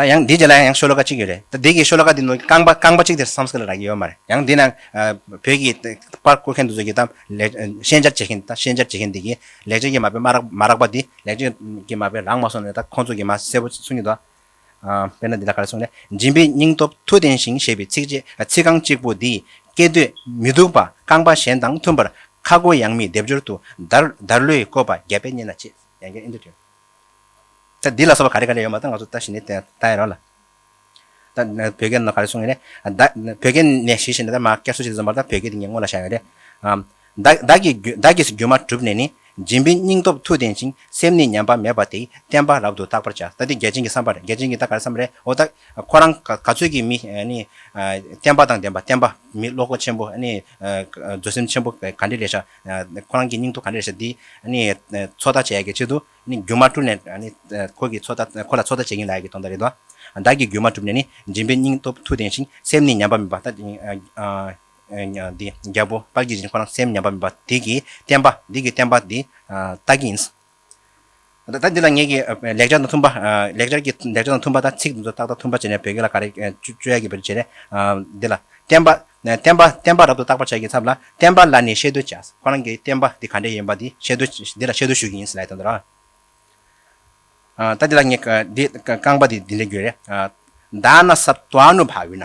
ད་ཡང་འདིའི་རྗེས་ལ་ཡང་ཤོ་ལོ་ཀ་གཅིག་ཡོད་རེད་ད་འདི་གི་ཤོ་ལོ་ཀ་འདི་ནང་རྐང་པ་རྐང་པ་གཅིག་དེ་སམ་སྐད་ལ་རག་གི་ཡོད་མ་རེད་ཡང་འདི་ནང་བོད་ཀྱི་པར་བརྐོ་མཁན་དུ་ཚོད་ཀྱི་ད་ཤན་སྦྱར་བྱེད་མཁན་ད་ཤན་སྦྱར་བྱེད་མཁན་འདི་གི་ལེགས་བྱས་ཀྱི་མ་དཔེ་མ་རག་པ་འདི་ལེགས་བྱས་ཀྱི་མ་དཔེ་རག་མ་སོང་ནས་ད་ཁོང་ཚོ་གི་མ་གསལ་པོ་གསུང་གི་འདུག་དཔེར་ན་འདི་ལ་ག་རེ་གསུང་ལེ་སྦྱིན་པའི་སྙིང་སྟོབས་མཐུ་ལྡན་ཞིང་ཞེས་པའི་ཚིག་ཚིག་རྐང་གཅིག་པོ་འདིས་སྐད་དོད་མི་སྡུག་པ་རྐང་པ་གཞན་དང་མཐུན་པར་ཁ་སྒོ་ཡང་མི་བརྡེབ་སྦྱོར་དུ་བརྡར་བརྡར་ལོས་བཀོད་པ་རྒྱ་དཔེ་རྙེད་ན་ཅི་ཡང་སྐད་ཨེ་འདོད་དྲན། ད་འདི་ལ་སོགས་པ་ག་རེ་ག་རེ་ཡོད་མ་ད་ང་ཚོ་ད་ཞི་ནས་ལྟ་ཡི་རོགས་ལ། ད་བོད་སྐད་ནང་ག་རེ་གསུང་ཡོད་ན་ད་བོད་སྐད་ནས་ཞི་ཞེས་ནས་ད་མ་སྐད་སུ་ཞིག་གིས་བཟོས་མ་རེད་ད་བོད་སྐད་དེ་ངས་སྔོན་ལ་བཞག་ཡོད་རེད། བདག་བདག་གིས་སྒྱུ་མ་གྲུབ་ནས་ནི་སྦྱིན་པའི་སྙིང་སྟོབས་མཐུ་ལྡན་ཅིང་སེམས་ནི་ཉམས་པ་མེད་པ་དེས་བསྟན་པ་རབ་ཏུ་རྟག་པར་བྱ་ད་འདི་རྒྱལ་ཆེན་གྱི་བསམ་པ་རེད་རྒྱལ་ཆེན་གྱིས་ད་ག་རེ་བསམ་པ་རེད་འོ་ད་ཁོ་རང་ག་ཚོད་ཀྱིས་མི་ནི་བསྟན་པ་དང་ལྡན་པ་བསྟན་པ་མི་བློ་སྒོ་ཆེན་པོ་ནི་བཟོད་སེམས་ཆེན་པོ་ག་འདྲས་ལས་བྱ་ཁོ་རང་གི་སྙིང་སྟོབས་ག་འདྲ་རེད་ཟེར་དུས། ཚོད་ལྟ་བྱེད་ཡག་གི་ཆེད་དུ། རྒྱུ་མ་བཀྲུས་ནས། ཁོ་ལ་ཚོད་ལྟ་བྱེད་ཀྱིན་ལ་ཡག་གི་དོན་དག་རེད་དོ། བདག་གིས་རྒྱུ་མ་གྲུབ་ནས་ནི། སྦྱིན་པའི་སྙིང་སྟོབས་མཐུ་ལྡན་ཞིང་སེམས་ནི་ཉམས་པ་མེད་པ། རྒྱལ་པོ་དཔལ་གྱིས་བཞིན་ཁོ་རང་སེམས་ཉམས་པ་མེད་པ། དེ་གིས་བསྟན་པ། བདག་གིས་བསྟན་པ། ད་ལྟ་འདི་ལ་ངེད་ཀྱི་ལེགས་སྦྱར་དང་མཐུན་པ། ལེགས་སྦྱར་གྱི་ལེགས་སྦྱར་དང་མཐུན་པ་དང་ཚིག་དེ་ཚོ་ཏག་ཏག་མཐུན་པར་བྱས་ནས་བོད་སྐད་ལ་ག་རེ་སྤྱོད་ཡ་གི་བར་བྱས་ནས། འདི་ལ། བསྟན་པ། བསྟན་པ། བསྟན་པ་རབ་ཏུ་བརྟག་པར་བྱ་གི་ཚབ་ལ་བསྟན་པ་ལ་ནི་ཤེས་བསྡོད་བྱ། ཁོ་རང་གི་བསྟན་པ་འདི་ག་འདྲའི་ཡིན་པ་འདི་ཤེས་བསྡོད། འདི་ལ་ཤེས་བསྡོད་ཞུ་གི་ཡིན་ཟེར་ལ་ཡི་དམ་དུ་ར། ད་འདི་ལ་ངེད་འདི་རྐང་པ་འདི་འདི་འདྲའི་རྒྱུད་རེད། བདག་ན་ས་བདག་ནུ་བ་བི་ན།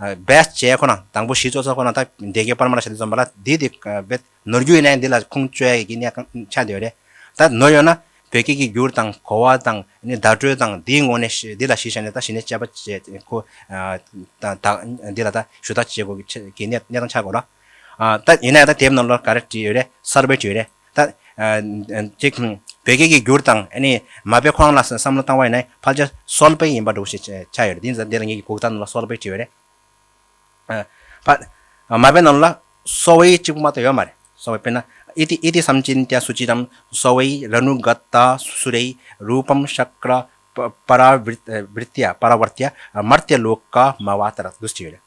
རྦད་བྱས་ཁོ་ན་དང་པོ་བཞི་གཙོ་ཚོགས་ཁོ་ན་དག་འདས་ཀའི་པར་མ་ལ་ཞལ་དུ་འཛོམས་པ་ལ་འདི་སྟེ་རྦད། ནོར་རྒྱུས་ལན་འདི་ལ་ཁུངས་བཅོལ་གྱི་གནད་གང་ཆགས་འདི་ཡོད་རེད། ད་ནོར་ཡོད་ན་བོད་སྐད་ཀྱི་འགྱུར་དང་གོ་བ་དང་བརྡ་སྤྲོད་དང་འདིའི་ངོ་ནས་འདི་ལ་གཞི་བཞག་ནས་ད་གཞི་ནས་དཔྱད་པ་བྱས་ཁོ། ད་འདི་ལ་ད་ཞུ་དག་བྱེད་དགོས་གི་གནད་གང་ཆགས་དགོས་ན། ད་ཡིན་ན་ད་དེབ་ནང་ལོར་ག་རེ་བྲིས་ཡོད་རེད་གསར་པའི་བྲིས་ཡོད་རེད་ད། ཅིག་བོད་སྐད་ཀྱི་འགྱུར་དང་ཨ་ནི་མ་དཔེ་ཁོ་རང་ལ་བསམ་བློ་བཏང་བ་ཡིན་ན་ཕལ་ཆེར་གསོལ་པའི་ཡིན་པ་འདུག་བཤད་ཆ་ཡོད་རེད་འདི་འདིར་ངེད་ཀྱི་གུག་རྟ་ནང་ལ་གསོལ་པའི་བྲིས་ཡོད་རེད། ཕ། མ་དཔེ་ནང་ལ་གསོལ་བའི་གཅིག་པུ་མ་གཏོགས་ཡོད་མ་རེད་གསོལ་བའི་དཔེ་ན་ཨི་ཏི་ཨི་ཏི་སམ་ཅི་ཏྱ་སུ་ཅི་རམ་གསོལ་བའི་ར་ནུ་ག་ཏ་སུ་རའི་རུ་པམ་ཤཀ་ར་པ་ར་བི་རྟི་ཡ་པ་ར་བར་ཏི་ཡ་མར་ཏི་ལུ་ཀ་མ་བ་ཏ་ར་ཏུ་སུ་ཅི་ཡོད་རེད།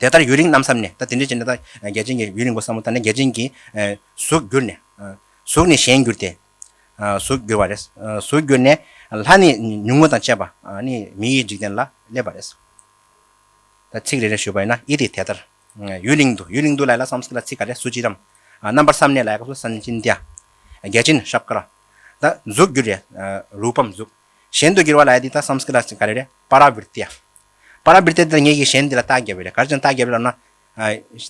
དེ་ལྟར་ཡུན་རིང་རྣམ་བསམས་ནས་ད་དེ་འདྲའི་བྱས་ནས་ད་རྒྱལ་ཆེན་གྱི་ཡུན་རིང་པོ་བསམ་མོ་ད་ནི་རྒྱལ་ཆེན་གྱི་གཟུགས་བསྒྱུར་ནས། གཟུགས་ནི་གཞན་བསྒྱུར་ཏེ། གཟུགས་བསྒྱུར་བ་རེ། གཟུགས་བསྒྱུར་ནས། ལྷ་ནི་ཉུང་ངུ་དང་བཅས་པ་ནི་མི་ཡི་འཇིག་རྟེན་ལ་སླེབས་པ་རེ། ད་ཚིག་རེ་རེ་ཞུས་པ་ཡིན་ན་ཨི་ཏི་དེ་ལྟར། ཡུན་རིང་དུ་ཡུན་རིང་དུ་ལ་ཡི་ལ་བསམས་སྐད་ལ་ཚིག་ག་རེ་སུ་ཅིར་རམ། རྣམ་པར་བསམས་ནས་ལ་ཡི་སྐབས་སུ་སན་ཅིན་ཏྱ། རྒྱལ་ཆེན་ཤབ་ཀ་ར། ད་གཟུགས་བསྒྱུར་རེ། རུ་པམ་གཟུགས། གཞན་དུ་བསྒྱུར་བ་ལ་ཡི་དེ་ད་བསམས་སྐད་ལ་ཚིག་ག་རེ་རེ་པ་ར་བིར་ཏྱ། པཱ་ར་བིརྟ་འདིར་ངེད་ཀྱིས་གཞན་འདི་ལ་རྟགས་བརྒྱབ་པས་གར་ཅང་རྟགས་བརྒྱབ་ལབ་ན།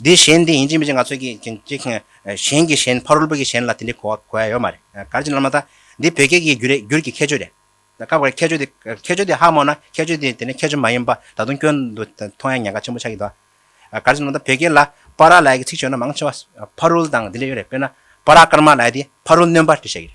འདི་གཞན་འདི་ཡིན་ཅི་མི་ཅི་ང་ཚོས་ཀྱིས་ཀྱིས་ཀྱིས་ཀྱིས་གཞན་གྱི་གཞན་ཕ་རོལ་པོ་གྱི་གཞན་ལ་དེ་འདྲའི་གོ་བ་གོ་ཡ་ཡོད་མ་རེད། གར་ཅི་ལབ་ན་ད། འདི་བོད་སྐད་ཀྱི་རྒྱུ་རྒྱུར་གྱི་ཁྱད་ཆོས་རེད། སྐབས་འགར་ཁྱད་ཆོས་དེ་ཁྱད་ཆོས་དེ་ཧ་མོ་ན་ཁྱད་ཆོས་དེ་དེ་ནས་ཁྱད་ཆོས་མ་ཡིན་པ་ད་དུང་སྐྱོན་དུ་མཐོང་ཡ་ཉེན་ཁ་ཆེན་པོ་ཆགས་ཀྱི་འདུག་ཨ། གར་ཅི་ལབ་ན་ད་བོད་སྐད་ལ་པཱ་ར་ལའི་གི་ཚིག་བྱོན་ན་མང་ཆེ་བ་ཕ་རོལ་དང་འདི་འདྲ་ཡོད་རེད་དཔེར་ན་པཱ་ར་ཀརྨ་ལའི་དེ་ཕ་རོལ་གནོན་པ་འདྲ་བཤད་ཀྱི་རེད།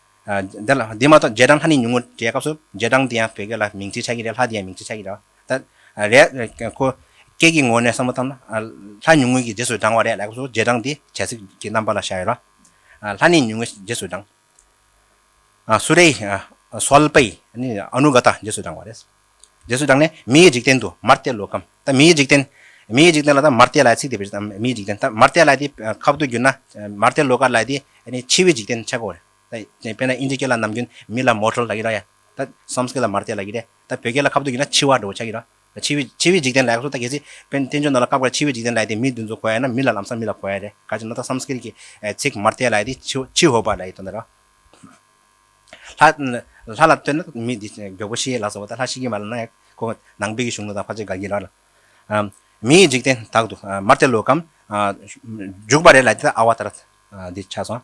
འདི་ལ་འདི་མ་གཏོགས་རྗེས་འབྲང་ལྷ་ནི་ཉུང་ངུ་རེད་སྐབས་སུ་རྗེས་འབྲང་འདི་ཡང་བོད་སྐད་ལ་མིང་ཚིག་ཆགས་ཀྱི་རེད་ལྷ་འདི་ཡང་མིང་ཚིག་ཆགས་ཀྱི་རེད། ད་རེས་ཁོ་སྐད་ཀྱི་ངོས་ནས་བསམ་བློ་བཏང་ན། ལྷ་ཉུང་ངུ་གྱི་རྗེས་སུ་འབྲང་བ་རེད་ལ་སྐབས་སུ་རྗེས་འབྲང་འདི་བྱ་ཚིག་གི་རྣམ་པ་ལ་བཞག་ཡོད་ལ། ལྷ་ནི་ཉུང་ངུ་རྗེས་སུ་འབྲང། སུ་རེ། སོལ་པའི། ཨ་ནུ་ག་ད་རྗེས་སུ་འབྲང་བ་རེད། འདོད་གསོལ་དང་ནི་མི་ཡི་འཇིག་རྟེན་དུ་མར་བལྟས་ལོ་སྐམ། ད་མི་ཡི་འཇིག་རྟེན། མི་ཡི་འཇིག་རྟེན་ལ་ད་མར་བལྟས་ལའི་ཚིག་དེ་བཞིན་མི་ཡི་འཇིག་རྟེན་ད་མར་བལྟས་ལ་དེ་ཁ་བརྡོ་བསྒྱུར་ན། མར་བལྟས་ལོ་སྐར་ལ་དེ་ནི་འཆི་བའི་འཇིག་རྟེན་ཆགས་གོ། དཔེར་ན་ཨིན་ཇི་སྐད་ལ་ནམ་རྒྱུན་མི་ལ་མོ་ཁྲོལ་ལ་ཡི་ར་ཡ། ད Samskrit ལ་མར་བལྟས་ལ་ཡི་ར་ཡ། ད་བོད་སྐད་ལ་ཁ་བརྡོ་བསྒྱུར་ན་འཆི་བ་འགྲོ་བ་ཆགས་ཡི་ར། འཆི་བའི་འཆི་བའི་འཇིག་རྟེན་ལ་ཡག་སོ་ད་གལ་སྲིད་དཔོན་བསྟན་འབྱོན་རྣམས་ལ་བཀག་པར་འཆི་བའི་འཇིག་རྟེན་ལ་དེ་མི་བདུན་ཚོ་གོ་ཡ་ན་མི་ལ་ལམ་སང་མི་ལ་གོ་ཡ་རེད་ག་ཅིག་ན་ད Samskrit ཀྱི་ཚིག་མར་བལྟས་ལ་དེ་འཆི་འཆི་འོ་བ་ལ་ཡི་དོན་དེ་ར། ལྷ་ལ་བསྟོད་ན་མི་འདི་མགྱོགས་པོ་ཤི་ལ་སོགས་པ་དང་ལྷ་ཤི་གི་མ་ལ་ན་ཡག་གོ། ནང་པའི་གི་གཞུང་ལུགས་དང་ཕ་ཆེ་དགའ་གི་ལ། མི་ཡི་འཇིག་རྟེན་དག་ཏུ་མར་བརྩེ་ལོ་གམ། འཇུག་པ་རེ་ལ་དེ་ལྟར་ཨ་བ་ད་ར་འདི་ཆགས་སོང།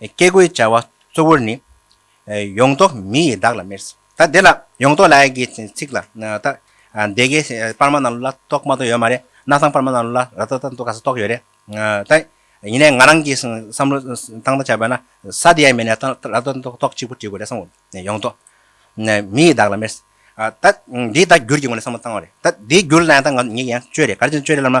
བཀས་བཀོད་བྱ་བ་གཙོ་བོར་ནི། ཡོངས་རྫོགས་མི་ཡི་བདག་ལ་སྨེར། ད་དེ་ལ་ཡོངས་རྫོགས་ལ་ཡི་གེ་ཚིག་ལ། ད་སྡེ་དགེ་སྤར་མ་རྣམས་ལ་གཏོགས་མ་གཏོགས་ཡོད་མ་རེད། གནའ་ཚང་སྤར་མ་རྣམས་ལ་ར་ད་ད་འདུག་ག་ས་གཏོགས་ཡོད་རེད། ད་ཡིན་ནའི་ང་རང་གིས་བསམ་བློ་བཏང་ལྟ་བྱས་པ་ན་ས་དེ་ཡ་མེད་ནས་ད་ར་ད་འདུག་གཏོགས་གཅིག་པུ་བྲིས་དགོས་རེད་བསམ་ངོ། ཡོངས་རྫོགས་མི་ཡི་བདག་ལ་སྨེར། ད་འདིའི་ད་བསྒྱུར་གྱི་ངོས་ནས་བསམ་བློ་བཏང་བ་རེད། ད་འདིའི་བསྒྱུར་ལ་ཡང་ད་ངག་ཉིད་ཀྱི་ཡང་བཅོས་རེད་ག་རེ་བྱས་ན་བཅོས་རེད་ལབ་ན།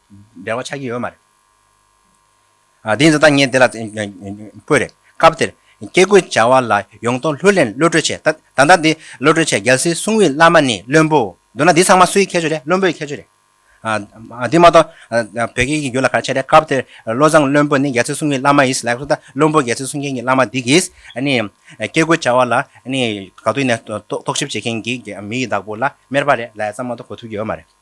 འབྲེལ་བ་ཆགས་ཀྱི་ཡོད་མ་རེད། དེ་ཡིན་ཙང་ད་ངས་འདི་ལ་བཀོད་རེད། སྐབས་དེར། སྐྱེ་རྒུའི་བྱ་བ་ལ་ཡོངས་རྟོགས་ལྷུར་ལེན་བློ་གྲོས་ཆེ། ད་ལྟ་འདི་བློ་གྲོས་ཆེ་རྒྱལ་སྲིད་སྲུང་བའི་བླ་མ་ནི་བློན་པོ། མདོར་ན་འདི་ཚང་མ་སུའི་ཁྱད་ཆོས་རེད་བློན་པོའི་ཁྱད་ཆོས་རེད། དེ་མ་གཏོགས་བོད་སྐད་ཀྱི་རྒྱུད་ལ་གར་ཆད་རེད་སྐབས་དེར་བློ་བཟང་བློན་པོ་ནི་རྒྱལ་སྲིད་སྲུང་བའི་བླ་མ་ཡིན། ལེགས་སོ་ད་བློན་པོ་རྒྱལ་སྲིད་སྲུང་མཁན་གྱི་བླ་མ་འདི་གིས། སྐྱེ་རྒུའི་བྱ་བ་ལ་ག་དུས་ནས་རྟོག་ཞིབ་བྱེད་མཁན་གྱི་མི་ཡི་བདག་པོ་ལ་སྨེར་པ་རེད། ལས་ཙམ་མ་གཏོགས་གོ་ཐུབ་ཀྱི་ཡོད་མ་རེད།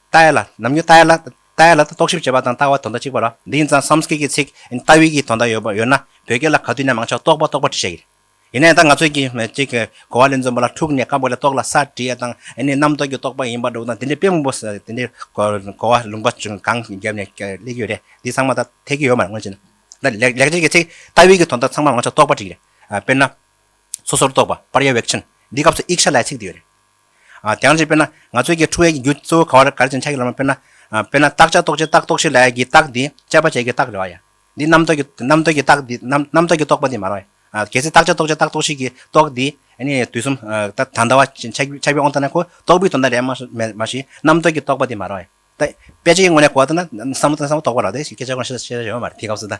ལྟ་ཡ་ལ། ནམ་རྒྱུན་ལྟ་ཡ་ལ། ལྟ་ཡ་ལ་དང་རྟོག་ཞིབ་བྱེད་པ་དང་ལྟ་བ་དོན་དག་གཅིག་པ་རོ། འདི་ཡིན་ཙང་སམ་སྐད་ཀྱི་ཚིག་ལྟ་བུའི་གྱི་དོན་དག་ཡོད་ཡོད་ན་བོད་སྐད་ལ་ག་དུས་ནས་མང་ཆེ་བ་རྟོག་པ་རྟོག་པ་བྲིས་བྱས་ཀྱི། ཡིན་ནའི་ད་ང་ཚོས་ཀྱི་ཅིག་གི་གོ་བ་ལས་འཛོམས་པ་ལ་འཁྲུགས་ནས་སྐབས་འགའ་ལས་རྟོག་ལ་སར་བྲིས་ཡ་དང་ཨེ་ནས་རྣམ་རྟོག་གི་རྟོག་པ་ཡིན་པར་འདུག་ན་དེ་འདྲའི་དཔེ་མང་པོ་དེ་འདྲའི་གོ་བ་ལུང་པ་ཅུང་གང་རྒྱབ་ནས་སླེབས་ཀྱི་ཡོད་རེད་འདི་ཚང་མ་ད་འཐད་ཀྱི་ཡོད་མ་རེད་སྔོན་ཆད་ན་ད་ལེགས་སྐྱེས་ཀྱི་ཚིག་ལྟ་བུའི་གྱི་དོན་དག་ཚང་མ་མང་ཆེ་བ་རྟོག་པ་བྲིས་ཀྱི་རེད་དཔེར་ན། སོ་སོར་རྟོག་པ་པར་ཡ་བེག་ཆེན་འདིའི་སྐབས་སུ་ཨིག་ཤ་ལའི་ཚིག་འདི་ཡོད་རེད། དེའང་ཅིག་དཔེར་ན་ང་ཚོས་ཀྱི་ཁྲུ་ཨེ་ཀྱི་རྒྱུ་གཙོ་བོ་ག་བ་རེད་ག་རེ་ཅེ་ན་ཆ་གི་ལམ་དཔེར་ན། དཔེར་ན་རྟགས་ཆ་རྟོགས་བྱེད་རྟགས་རྟོགས་བྱེད་ལ་ཡ་གི་རྟགས་འདི་དཔྱད་པ་བྱེད་ཀྱི་རྟགས་རེད་བ་ཡ། འདི་རྣམ་རྟོག་གི་རྣམ་རྟོག་གི་རྟགས་འདི་རྣམ་རྟོག་གི་རྟོགས་པ་འདི་མ་རེད་བ་ཡ། གལ་སྲིད་རྟགས་ཆ་རྟོགས་བྱེད་རྟགས་རྟོགས་བྱེད་ཀྱི་རྟོགས་འདི་ནི་དུས་གསུམ་དང་འདྲ་བ་ཆ་བའི་ཨོང་ལྟར་ན་ཁོ་རྟོགས་པའི་དོན་དང་རེད་མ་མེད་མ་ཞིག་རྣམ་རྟོག་གི་རྟོགས་པ་འདི་མ་རེད་བ་ཡ། དཔེ་ཆ་ཡི་ངོས་ནས་གོ་བ་ལྟར་ན་བསམ་བློ་དང་བསམ་བློ་རྟོགས་པ་རེད་བ་ཞིག་སྐད་ཆ་ཁོ་ན་བཤད་ས་ཡོད་མ་རེད་དེའི་སྐབས་སུ་ད།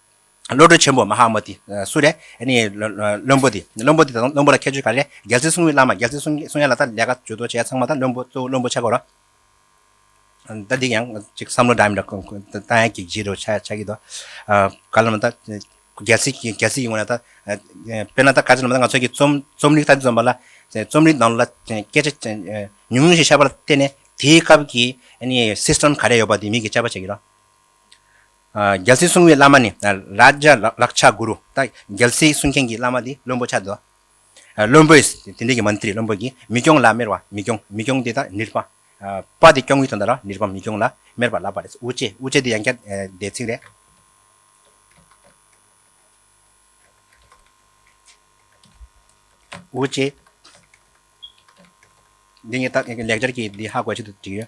བློ་གྲོས་ཆེན་པོ་མ་ཧཱ་མོ་དི་སུ་རེད། བློན་པོ་དེ་བློན་པོ་དེ་དང་བློན་པོ་ལ་ཁྱད་ཆོས་ག་རེ་རེད། རྒྱལ་སྲིད་སྲུང་བའི་བླ་མ་རྒྱལ་སྲིད་སྲུང་ཡ་ལ་ད་ལས་ཀ་བྱོས་དོ་བྱས་ཚང་མ་ད་བློན་པོ་གཙོ་བོ་བློན་པོ་ཆགས་དགོས་རོ། ད་འདི་ཡང་ཅིག་བསམ་བློ་འདྲ་མི་འདྲ་བཏང་ཡ་གི་གཞི་རུ་ཆགས་ཀྱི་འདུག་བཀའ་སློབ་ན་ད་རྒྱལ་སྲིད་ཀྱི་རྒྱལ་སྲིད་ཀྱི་ངོས་ན་ད་དཔེར་ན་ད་བཀའ་སྤྱི་ལ་མ་ད་ང་ཚོ་གི་རྩོམ་རྩོམ་རིག་ད་འདི་འཛོམས་པ་ལ་རྩོམ་རིག་ནང་ལ་སྐད་ཆ་ཉུང་ཉུང་ཞིག་བཤད་པ་ལ་བརྟེན་ནས་དེའི་སྐབས་ཀྱི system ག་རེ་ཡོད་པ་དེ་མིག་གིས་དཔྱད་པ་བྱེད་ཀྱི་རོ། རྒྱལ་སྲིད་སྲུང་བའི་བླ་མ་ནི་རཱཇཱ་རཀ་ཆ་གུ་རུ། རྒྱལ་སྲིད་སྲུང་མཁན་གྱི་བླ་མ་དེ་བློན་པོ་ཆ་བདུ། བློན་པོས་དེ་འབྲེལ་གྱི་མནྟ་རི་བློན་པོ་གྱིས་མི་སྐྱོང་ལ་སྨེར་བ་མི་སྐྱོང་མི་སྐྱོང་དེ་དག་ནིརྦ། པ་དེ་སྐྱོང་གི་དོན་དག་ལ་ནིརྦ་མི་སྐྱོང་ལ་སྨེར་བ་ལབ་པ་རེད། ཨུ་ཅེ་ཨུ་ཅེ་དེ་ཡང་བསྐྱར་བཟླས་ཚིག་རེད། ཨུ་ཅེ། འདི་ངས་ལེགས་སྦྱར་གྱི་འདི་ཧ་གོ་ཆེད་དུ་བྲིས་ཡོད།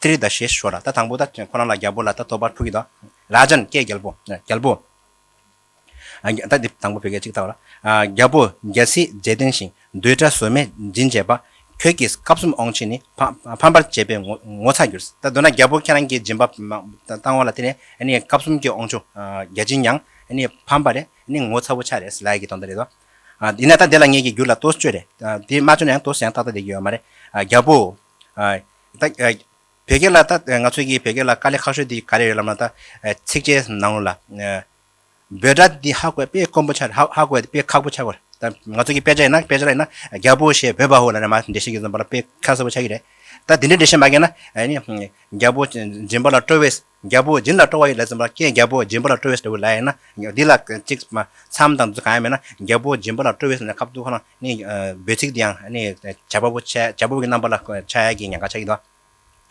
ཏི་རི་ད་ཞེས་ཞོ་ལ་ད་དང་པོ་ད་ཁོ་ན་ལ་རྒྱལ་པོ་ལ་ད་ཐོ་པ་ཕུ་གི་ད་ར་ཇན་སྐད་རྒྱལ་པོ་རྒྱལ་པོ། ད་འདི་དང་པོ་བོད་སྐད་ཅིག་ད་བ་ལ། རྒྱལ་པོ་རྒྱལ་སྲིད་རྗེས་བརྟན་ཞིང་རྡུལ་ཕྲ་ཟོལ་མེད་སྦྱིན་བྱེད་པ། ཁྱོད་ཀྱིས་སྐབས་གསུམ་འོང་ཕྱིར་ནི་ཕམ་པར་བྱེད་པའི་ངོ་ཚ་གྱུར། ད་འདོད་ན་རྒྱལ་པོ་ཁྱེད་རང་གིས་སྦྱིན་པ་བཏང་བ་ལ་དེ་ནས་སྐབས་གསུམ་གྱིས་འོང་ཆུ་རྒྱལ་སྦྱིན་ཡང་ཕམ་པ་རེད་ངོ་ཚ་བོ་ཆགས་རེད་ལ་ཡི་གི་དོན་དུ་རེད་དོ། ཡིན་ན་ད་འདི་ལ་ངེད་ཀྱིས་བསྒྱུར་ལ་ལྟོས་བཅོས་རེད་དེ་མ་བཅོས་ན་ཡང་ལྟོས་ཡང་ཏག་ཏག་བསྡད་ཀྱི་ཡོད་མ་རེད་རྒྱལ་པོ། བོད་སྐད་ལ་ད་ང་ཚོའི་གི་བོད་སྐད་ལ་དཀའ་ལས་ཁག་ཤོས་འདི་ག་རེ་རེད་ལབ་ན་ད་ཚིགས་བཅད་ནང་ལ་འབོད་སྒྲ་འདི་ཧ་གོ་དཔེ་དཀོན་པོ་ཆགས་རེད་ཧ་གོ་དཔེ་ཁག་པོ་ཆགས་གོ་རེད་ད་ང་ཚོའི་གི་དཔེ་ཆ་ཡིན་ན་དཔེ་ཆ་ལ་ཡིན་ན་རྒྱ་བོ་ཞེས་འབོད་པ་ཧོ་ལ་ནས་མ་འགྲེལ་བཤད་ཀྱི་ཟིན་པ་ལ་དཔེ་ཁ་གསལ་པོ་ཆགས་ཀྱི་རེད་ད་འདི་འདྲའི་འགྲེལ་བཤད་མ་དགོས་ན་ཨ་ནི་རྒྱ་བོ་འཛིན་པ་ལ་སྤྲོ་བས། རྒྱལ་པོ་སྦྱིན་ལ་སྤྲོ་བ་ཡི་ལས་ཙམ་པ་ཀྱེ་རྒྱལ་པོ་སྦྱིན་པ་ལ་སྤྲོ་བས་ཟློ་བའི་ལས་ཡིན་ན་འདི་ལ་གཅིག་མཚམས་དང་དུས་གང་ཡང་མེད་ན་རྒྱལ་པོ་སྦྱིན་པ་ལ་སྤྲོ་བས་ཟློ་བའི་ཁབ་ཏུ་ཁོ་ན་ནི་འབོད་ཚིག་འདི་ཡང་ནི་བྱ་བ་པོ་ཆེ་བྱ་བ་པོ་ཀྱི་རྣམ་པ་ལ་ཆ་ཡ་གྱི་ཉེན་ཁ་ཆགས་ཀྱི་འདུག་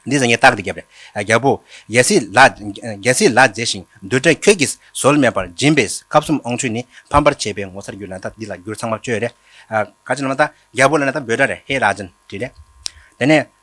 འདི་ཟེར་ངེས་རྟགས་འདི་རྒྱབ་རེད་རྒྱལ་པོ། རྒྱལ་སྲིད་ལ་རྒྱལ་སྲིད་ལ་མཛེས་ཤིང་རྡུལ་བྲལ་ཁྱོད་ཀྱིས་ཟོལ་མེད་པར་སྦྱིན་པས་སྐབས་གསུམ་ཨོང་ཆུ་ནི་ཕམ་པར་བྱས་པའི་ངོ་མཚར་རྒྱུད་ལ་དག་འདི་ལ་རྒྱུར་ཚང་མ་བཅོས་རེད། ག་ཅི་ན་མ་ད་རྒྱལ་པོ་ལ་ན་ད་འབོད་སྒྲ་རེད་ཧེ་ལགས་ཅན་བྲིས་རེད། དེ་ནས།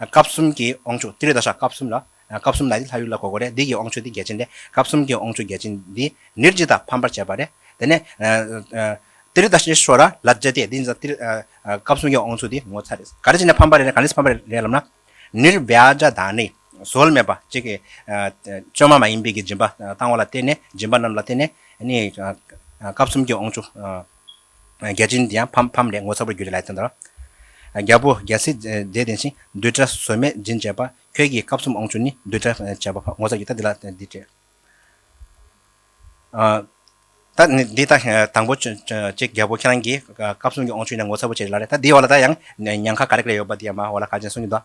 སྐབས་གསུམ་གྱི་དབང་ཕྱུག་ཏི་རི་ཏཱ་ཤྲཱི་སྐབས་གསུམ་ལ། སྐབས་གསུམ་ལ་ཏེ་ལྷ་ཡུལ་ལ་གོ་དགོས་རེད་འདི་ཀྱི་དབང་ཕྱུག་ཏི་རྒྱལ་ཆེན་ཏེ་སྐབས་གསུམ་གྱི་དབང་ཕྱུག་རྒྱལ་ཆེན་འདི་ནིར་ཇི་དང་ཕམ་པར་བྱས་པ་རེད། དེ་ནས། ཏི་རི་ཏཱ་ཤྲཱི་ཤོ་ར་ལ་བརྗོད་དེ་འདི་ནི་ཏི་རི། སྐབས་གསུམ་གྱི་དབང་ཕྱུག་ཏི་ངོ་མཚར་རེད། ག་རེ་བྱས་ནས་ཕམ་པ་རེད་ག་ནས་ཕམ་པ་རེད་ལབ་ན། ནིར་བྷྱ་ཇཱ་དཱ་ནི། བཟོལ་མེད་པ་གཅིག་གིས། བཅོས་མ་མ་ཡིན་པའི་གྱི་སྦྱིན་པ་བཏང་བ་ལ་བརྟེན་ནས་སྦྱིན་པ་རྣམས་ལ་བརྟེན་ནས། སྐབས་གསུམ་གྱི་དབང་ཕྱུག། བརྒྱ་བྱིན་དེ་ཡང་ཕམ་ཕམ་ལས་ངོ་མཚར་བར་གྱུར་ཏེ་ལེགས་ཐོས་དང། རྒྱལ་པོ་རྒྱལ་སྲིད་མཛད་བདེན་ཞིང་བདུད་དགྲ་ཟོལ་མེད་སྦྱིན་བྱེད་པ་ཁྱོད་ཀྱིས་སྐབས་གསུམ་འོང་ཆུ་ནི་བདུད་དགྲ་བྱེད་པ་ངོ་མཚར་གྱི་རྟ་འདི་ལ་འདི་སྤྲད། རྟ་ནི་འདི་ལྟ་དང་པོ་ཅིག་རྒྱལ་པོ་ཁྱེད་རང་གིས་སྐབས་གསུམ་གྱི་འོང་ཆུ་ནི་ངོ་མཚར་བོ་ཆེ་ཞིག་ལ་རེ་ད་འདིའི་འོག་ལ་ད་ཡང་ཉང་ཁ་ག་རེ་ག་རེ་ཡོད་པ་དེ་ཡང་མ་འོངས་ལ་ག་ཅན་གསུང་གིན་འདུག།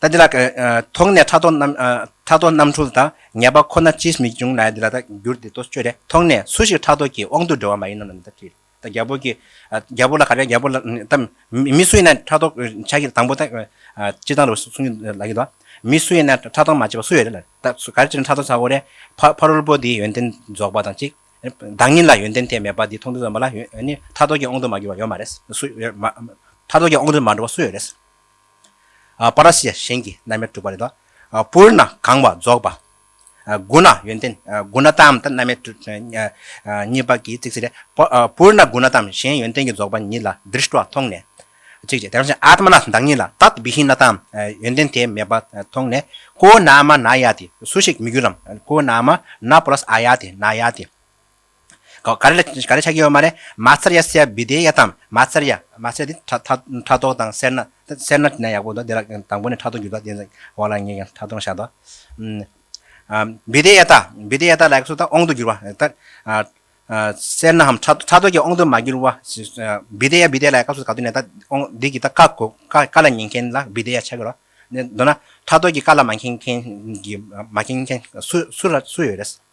ད་འདི་ལ་དོགས་ནས་ཕྲག་དོག་རྣམ་འཁྲུལ་དང་ངེས་པ་ཁོ་ན་ཅིས་མི་འབྱུང་ན་འདི་ལ་ད་འགྱུར་ཏེ་ལྟོ་སྤྱོད་དེ་མཐོང་ནས་སུ་ཞིག་ཕྲག་དོག་གིས་དབང་དུ་འགྲོ་བ་མ་ཡིན་ནམ་ད་དྲིས་ད་རྒྱལ་པོ་གིས་རྒྱལ་པོ་ལ་ག་རེ་རྒྱལ་པོ་ལ་ད་མི་སུ་ཡིན་ན་ཕྲག་དོག་བྱ་གི་དང་པོ་ད་སྤྱི་དང་རུ་སུ་གསུང་གི་ལ་གི་དོ་མི་སུ་ཡིན་ན་ཕྲག་དོག་མ་བྱེད་པ་སུ་ཡོད་རེད་ལ་ད་ག་རེ་བྱས་ན་ཕྲག་དོག་བྱ་དགོས་རེད་ཕ་རོལ་པོ་དེའི་ཡོན་ཏན་རྫོགས་པ་དང་གཅིག་བདག་ཉིད་ལ་ཡོན་ཏན་དེ་མེད་པ་དེ་མཐོང་ཐོས་ཚོར་མ་ལ་ཡོད་ནི་ཕྲག་དོག་གིས་དབང་དུ་མ་གྱུར་བ་ཡོད་མ་རེད་སུ་ཡོད་ཕྲག་དོག་གིས་དབང་དུ་མ་འགྲོ་བ་སུ་ཡོད་རེད། པ་ར་སི་ཡ་གཞན་གྱི་རྣམ་དབྱེར་གྲུབ་པ་རེ་དོགས། པུར་ན་གང་བ་རྫོགས་པ། དགུ་ན་ཡོན་ཏན་དགུ་ན་དམ་དང་རྣམ་དབྱེ་གྲུབ། གཉིས་པ་ཀྱི་ཚིགས་བཅད་ལས། པུར་ན་དགུ་ན་དམ་གཞན་ཡོན་ཏན་གྱི་རྫོགས་པ་ཉིད་ལ་དཱིར་ཤྲཱི་བ་མཐོང་ནས། ཚིགས་བཅད་དེ་བཞིན་ཨ་ཏྨ་ན་བདག་ཉིད་ལ་ཏཏ་བི་ཧི་ན་དམ་ཡོན་ཏན་དེ་མེད་པ་མཐོང་ནས། ཀོ་ན་མ་ན་ཡ་ཏི་སུ་ཞིག་མི་འགྱུར་རམ། ཀོ་ན་མ་ན་པུ་ར་སི་ཨ་ཡ་ཏི་ན་ཡ་ཏི། ག་རེ་ལ་ཆགས་ཀྱི་ཡོད་མ་རེད། མ་ཚར་ཡ་སེ་ཡ་བི་དེའི་ཡ་དམ། མ་ཚར་ཡ། མ་ཚར་ཡ་དེ་ཕྲ་ཕྲ་དོག་དང་སེར་ནག། སེར་ནག་ནས་ཡག་པོ་འདུག་དེ་ལ་དང་པོ་ནས་ཕྲ་དོག་འགྱུར་ལྡོག་བསྟན་ཟིན་འོག་ལ་ངེས་ཀྱང་ཕྲ་དོག་ཤ་དོག། བི་དེའི་ཡ་ད། བི་དེའི་ཡ་ད་ལ་ཡག་སོ་ད་ཨོང་དུ་འགྱུར་བ། སེར་ནག་འམ་ཕྲ་དོག་གི་ཨོང་དུ་མ་འགྱུར་བ། བི་དེའི་ཡ་བི་དེའི་ལ་ཡག་སོ་ད་ག་དུས་ནས་ད་ཨོང་འདི་གི་ད་ཀ་གོ། ཀ་ལ་ཉན་མཁན་ལ་བི་དེའི་ཡ་ཆགས་ཀྱི་རོ། མདོར་ན། ཕྲ་དོག་གི་ཀ་ལ་མ་མཁྱེན་མཁན་གྱི་མ་མཁྱེན་མཁན་སུ་ཡོད་རེད།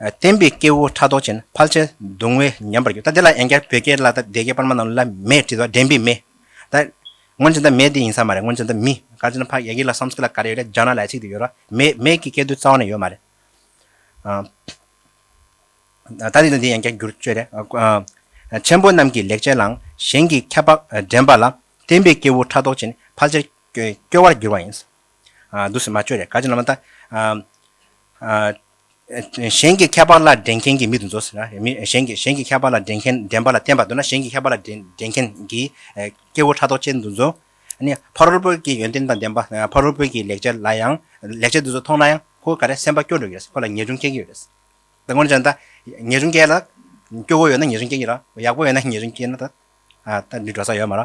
བསྟན་པའི་སྐྱེ་བོ་ཕྲག་དོག་ཅན་ཕལ་ཆེར་གདུང་བས་ཉམས་པར་གྱུར་ད་དེ་ལ་ཡན་བསྐྱར་བོད་སྐད་བཀླགས་ད་སྡེ་དགེ་པར་མ་རྣམས་ལ་མེད་དྲིས་ཏོ་འདྲེན་པའི་མེ། ད། སྔོན་ཇི་ལྟར་མེ་དེ་ཡིན་ས་མ་རེད་སྔོན་ཇི་ལྟར་མི་ག་ཅི་ན་ཕ་ཡ་གི་ལ་སམས་ཀི་ལ་ག་རེ་ཡོད་རེད་ལྗང་ན་ལ་ཅིག་དེ་ཡོད་རོ་མེ་མེ་གི་སྐད་དུ་རྩ་བ་ནས་ཡོད་མ་རེད། ད་དེ་ལ་འདི་ཡན་བསྐྱར་འགྱུར་བཅོས་རེད། ཆེན་པོ་རྣམས་ཀྱི་ལེགས་བྱས་ལའང་གཞན་གྱིས་ཁྱད་འཕགས་འདྲེན་པ་ལ་བསྟན་པའི་སྐྱེ་བོ་ཕྲག་དོག་ཅན་ཕལ་ཆེར་སྐྱོ་བར་འགྱུར་བ་ཡིན། འདུག་སེམས་མ་བཅོས་རེ་དགའ་ཅན་ལ་མ་བལྟ། གཞན་གྱི་ཁྱད་པར་ལ་འགྲན་མཁན་གྱི་མི་དུ་འཛོ། གཞན་གྱི་ཁྱད་པར་ལ་འགྲན་མཁན་འགྲན་པ་ལ་བརྟེན་པར་འདོད་ན་གཞན་གྱི་ཁྱད་པར་ལ་འགྲན་མཁན་གྱི་སྐྱེ་བོ་ཕྲག་དོག་ཅན་དུ་འཛོ། ཕ་རོལ་པོ་གྱི་ཡོན་ཏན་དང་ལྡན་པ་ཕ་རོལ་པོ་གྱི་ལེགས་བྱ་ལ་ཡང་ལེགས་བྱས་འདུག་ཚུལ་མཐོང་ན་ཡང་ཁོ་ག་རེ་སེམས་པ་སྐྱོ་འགྲོ་གི་རེད་ཁོ་ལ་ཉེས་སྐྱོན་སྐྱེ་གི་ཡོད་རེད། ད་ངོ་ཅན་ད་ཉེས་སྐྱོན་སྐྱེ་ལ་སྐྱོ་བོ་ཡོད་ན་ཉེས་སྐྱོན་སྐྱེ་གི་ར་ཡག་པོ་ཡོད་ན་ཉེས་སྐྱོན་སྐྱེ་ན་ད་འདི་འགྲོ་ས་ཡོད་མ་ར།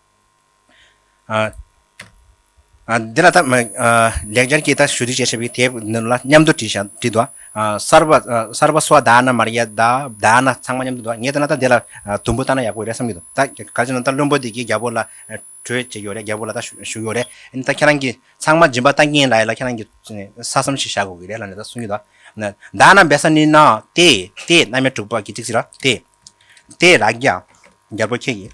འདི་ལ་ལེགས་སྦྱར་གྱི་ཞུ་བདུད་ཅེས་བྱ་བའི་དེབ་འདི་ལ་མཉམ་དུ་བྲིས་འདུག་གསར་པ་སོགས་བདག་ན་མ་རེད་བདག་ན་ཚང་མ་མཉམ་དུ་འདུག་ངས་བལྟས་ན་འདི་ལ་དུམ་བུ་བཏགས་ན་ཡག་པོ་རེད་བསམ་གྱི་འདུག་ད་ག་རེ་བྱས་ན་བླུན་པོ་འདི་གའི་རྒྱལ་པོ་ལ་གྲོས་བྱེད་ཀྱི་རེད་རྒྱལ་པོ་ལ་ཞུ་ཡོད་རེད་ད་ཁྱེད་རང་གིས་ཚང་མ་སྦྱིན་པ་བཏང་གིན་ལ་ཡིན་ལ་ཁྱེད་རང་གིས་ས་བསམ་ཞིག་བྱ་དགོས་ཀྱི་རེད་ལ་ནི་ད་གསུངས་ཀྱི་འདུག་བདག་ན་འབད་ས་ནི་ནའོ་ཏེ་ཏེ་རྣལ་མའི་དྲུག་པ་གི་ཚིགས་ཟིན་ལ་ཏེ་རགས་རྒྱ་རྒྱལ་པོ་ཁྱེད་ཀྱིས།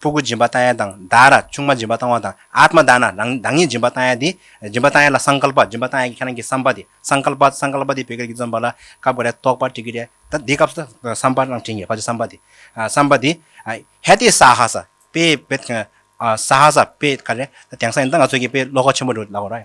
ཕུ་གུ་སྦྱིན་པ་བཏང་ཡས་དང་ད་ར་ཆུང་མ་སྦྱིན་པ་བཏང་བ་དང་ཨཱཏྨ་དཱ་ན་རང་ཉིད་སྦྱིན་པ་བཏང་ཡས་དེ་སྦྱིན་པ་བཏང་ཡས་ལ་སངས་ཀཱལ་པ་སྦྱིན་པ་བཏང་ཡས་ཀྱི་ཁྱེད་རང་གི་བསམ་པ་དེ་སངས་ཀཱལ་པ་སངས་ཀཱལ་པ་དེ་བོད་སྐད་ཀྱིས་བརྩམས་པ་ལ་སྐབས་འགའ་རེ་རྟོགས་པར་བྲི་གི་རེད་ད་འདི་སྐབས་སུ་བསམ་པ་རང་བྲིས་ངེས་པ་ཆེ་བསམ་པ་དེ་བསམ་པ་དེ། ཧེ་ཏེ་སྭཱ་ཧཱ་སྭཱ་པེ་བེ། སྭཱ་ཧཱ་སྭཱ་པེ་ག་རེ་ད་དེང་སང་ཡིན་ད་ང་ཚོ་གི་པེ་བློ་ཁོག་ཆེན་པོ་འགྲོ་ལ་གོ་ར།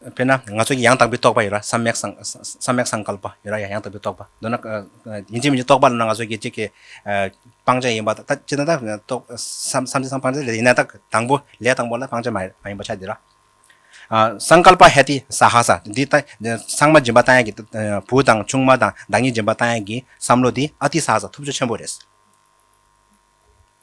དཔེར་ན་ང་ཚོ་ཡང་དག་པའི་རྟོགས་པ་ཡོད་ར་སམ་མེག་སམ་མེག་སངས་ཀལ་པ་ཡོད་ར་ཡང་དག་པའི་རྟོགས་པ་འདོད་ན་ཡིན་གཅིག་མིན་གཅིག་རྟོགས་པ་ལ་ན་ང་ཚོ་སྐད་ཅིག་གིས་སྤང་བྱ་ཡིན་པ་ད་ཅི་ད་ད་རྟོགས་སམ་བསམ་གྱི་སམ་སྤང་བྱ་ལས་ཡིན་ན་ད་དང་པོ་ལས་དང་པོ་ལ་སྤང་བྱ་མ་ཡིན་པ་ཆ་འདི་ར། སངས་ཀལ་པ་ཧེ་ཏི་སྭ་ཧཱ་ས་འདི་ད་སངས་མ་སྦྱིན་པ་བཏང་ཡག་གི་བུ་དང་ཆུང་མ་དང་བདག་ཉིད་སྦྱིན་པ་བཏང་ཡག་གི་བསམ་བློ་འདི་ཨ་ཏི་སྭ་ཧཱ་ས་ཐུབ་ཆ་ཆེན་པོ་རེད།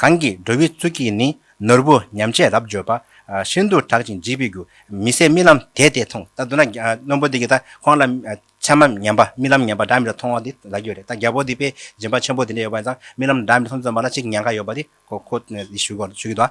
གང་གིས་འགྲོ་བའི་གཙུག་གིས་ནི་ནོར་བུ་ཉམས་བྱེད་རབ་འབྱོར་པ། ཤིན་ཏུ་དྲག་ཅིང་འཇིགས་པའི་རྒྱུ། མི་ཟད་རྨི་ལམ་དེས་དེ་མཐོང། ད་དུ་ན་རྣོན་པོ་འདི་གིས་ད་ཁོང་ལ་མཚན་མ་ཉམས་པ་རྨི་ལམ་ཉམས་པ་སྒྲ་མི་རྟག་མཐོང་བ་འདི་ལ་རྒྱུ་རེད་ད་རྒྱལ་པོ་འདི་པས་སྦྱིན་པ་ཆེན་པོ་དེ་འདྲ་ཡོད་པ་ཡིན་ཙང་རྨི་ལམ་སྒྲ་མི་མཐོང་བརྩོན་པ་ལ་ཅིག་ཉན་ཁ་ཡོད་པ་འདི་ཁོ་ཁོ་ཞུས་ཀྱི་འདུག།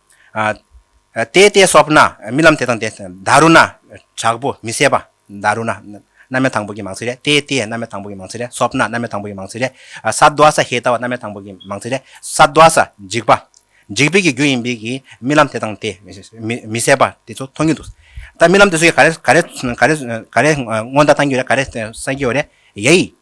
དེ་ལྟའི་སོབ་ན་རྨི་ལམ་དེ་དང་དེ་འདའ་རུ་ན་དྲག་པོ་མི་ཟད་པ་འདའ་རུ་ན་རྣམ་སྨེ་དང་པོ་གི་མང་ཚིག་རེད་དེ་དེ་རྣམ་སྨེ་དང་པོ་གི་མང་ཚིག་རེད་སོབ་ན་རྣམ་སྨེ་དང་པོ་གི་མང་ཚིག་རེད་ས་རྡོ་ས་ཧེ་ལྟ་བ་རྣམ་སྨེ་དང་པོ་གི་མང་ཚིག་རེད་ས་རྡོ་ས་འཇིགས་པ་འཇིགས་པའི་གི་རྒྱུ་ཡིན་པའི་གི་རྨི་ལམ་དེ་དང་དེ་མི་ཟད་པ་དེ་ཚོ་མཐོང་གི་འདུག་ད་རྨི་ལམ་དེ་ཚོ་ག་རེ་ག་རེ་ག་རེ་ག་རེ་སྔོན་བརྡ་བཏང་གི་རེད་ག་རེ་སངས་ཀྱི་ཡོད་རེད་ཡེ་ཡིས།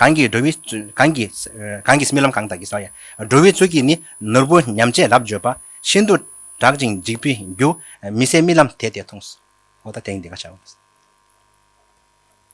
གང་གིས་འགྲོ་བའི་རྨི་ལམ་གང་དག་གིས། འགྲོ་བའི་ཚུལ་གྱིས་ནི་ནོར་བུ་ཉམས་བྱས་རབ་བརྗོད་པ། ཤིན་ཏུ་དྲག་ཅིང་འཇིགས་པའི་རྒྱུ། མི་ཟད་རྨི་ལམ་དེ་དེས་མཐོང།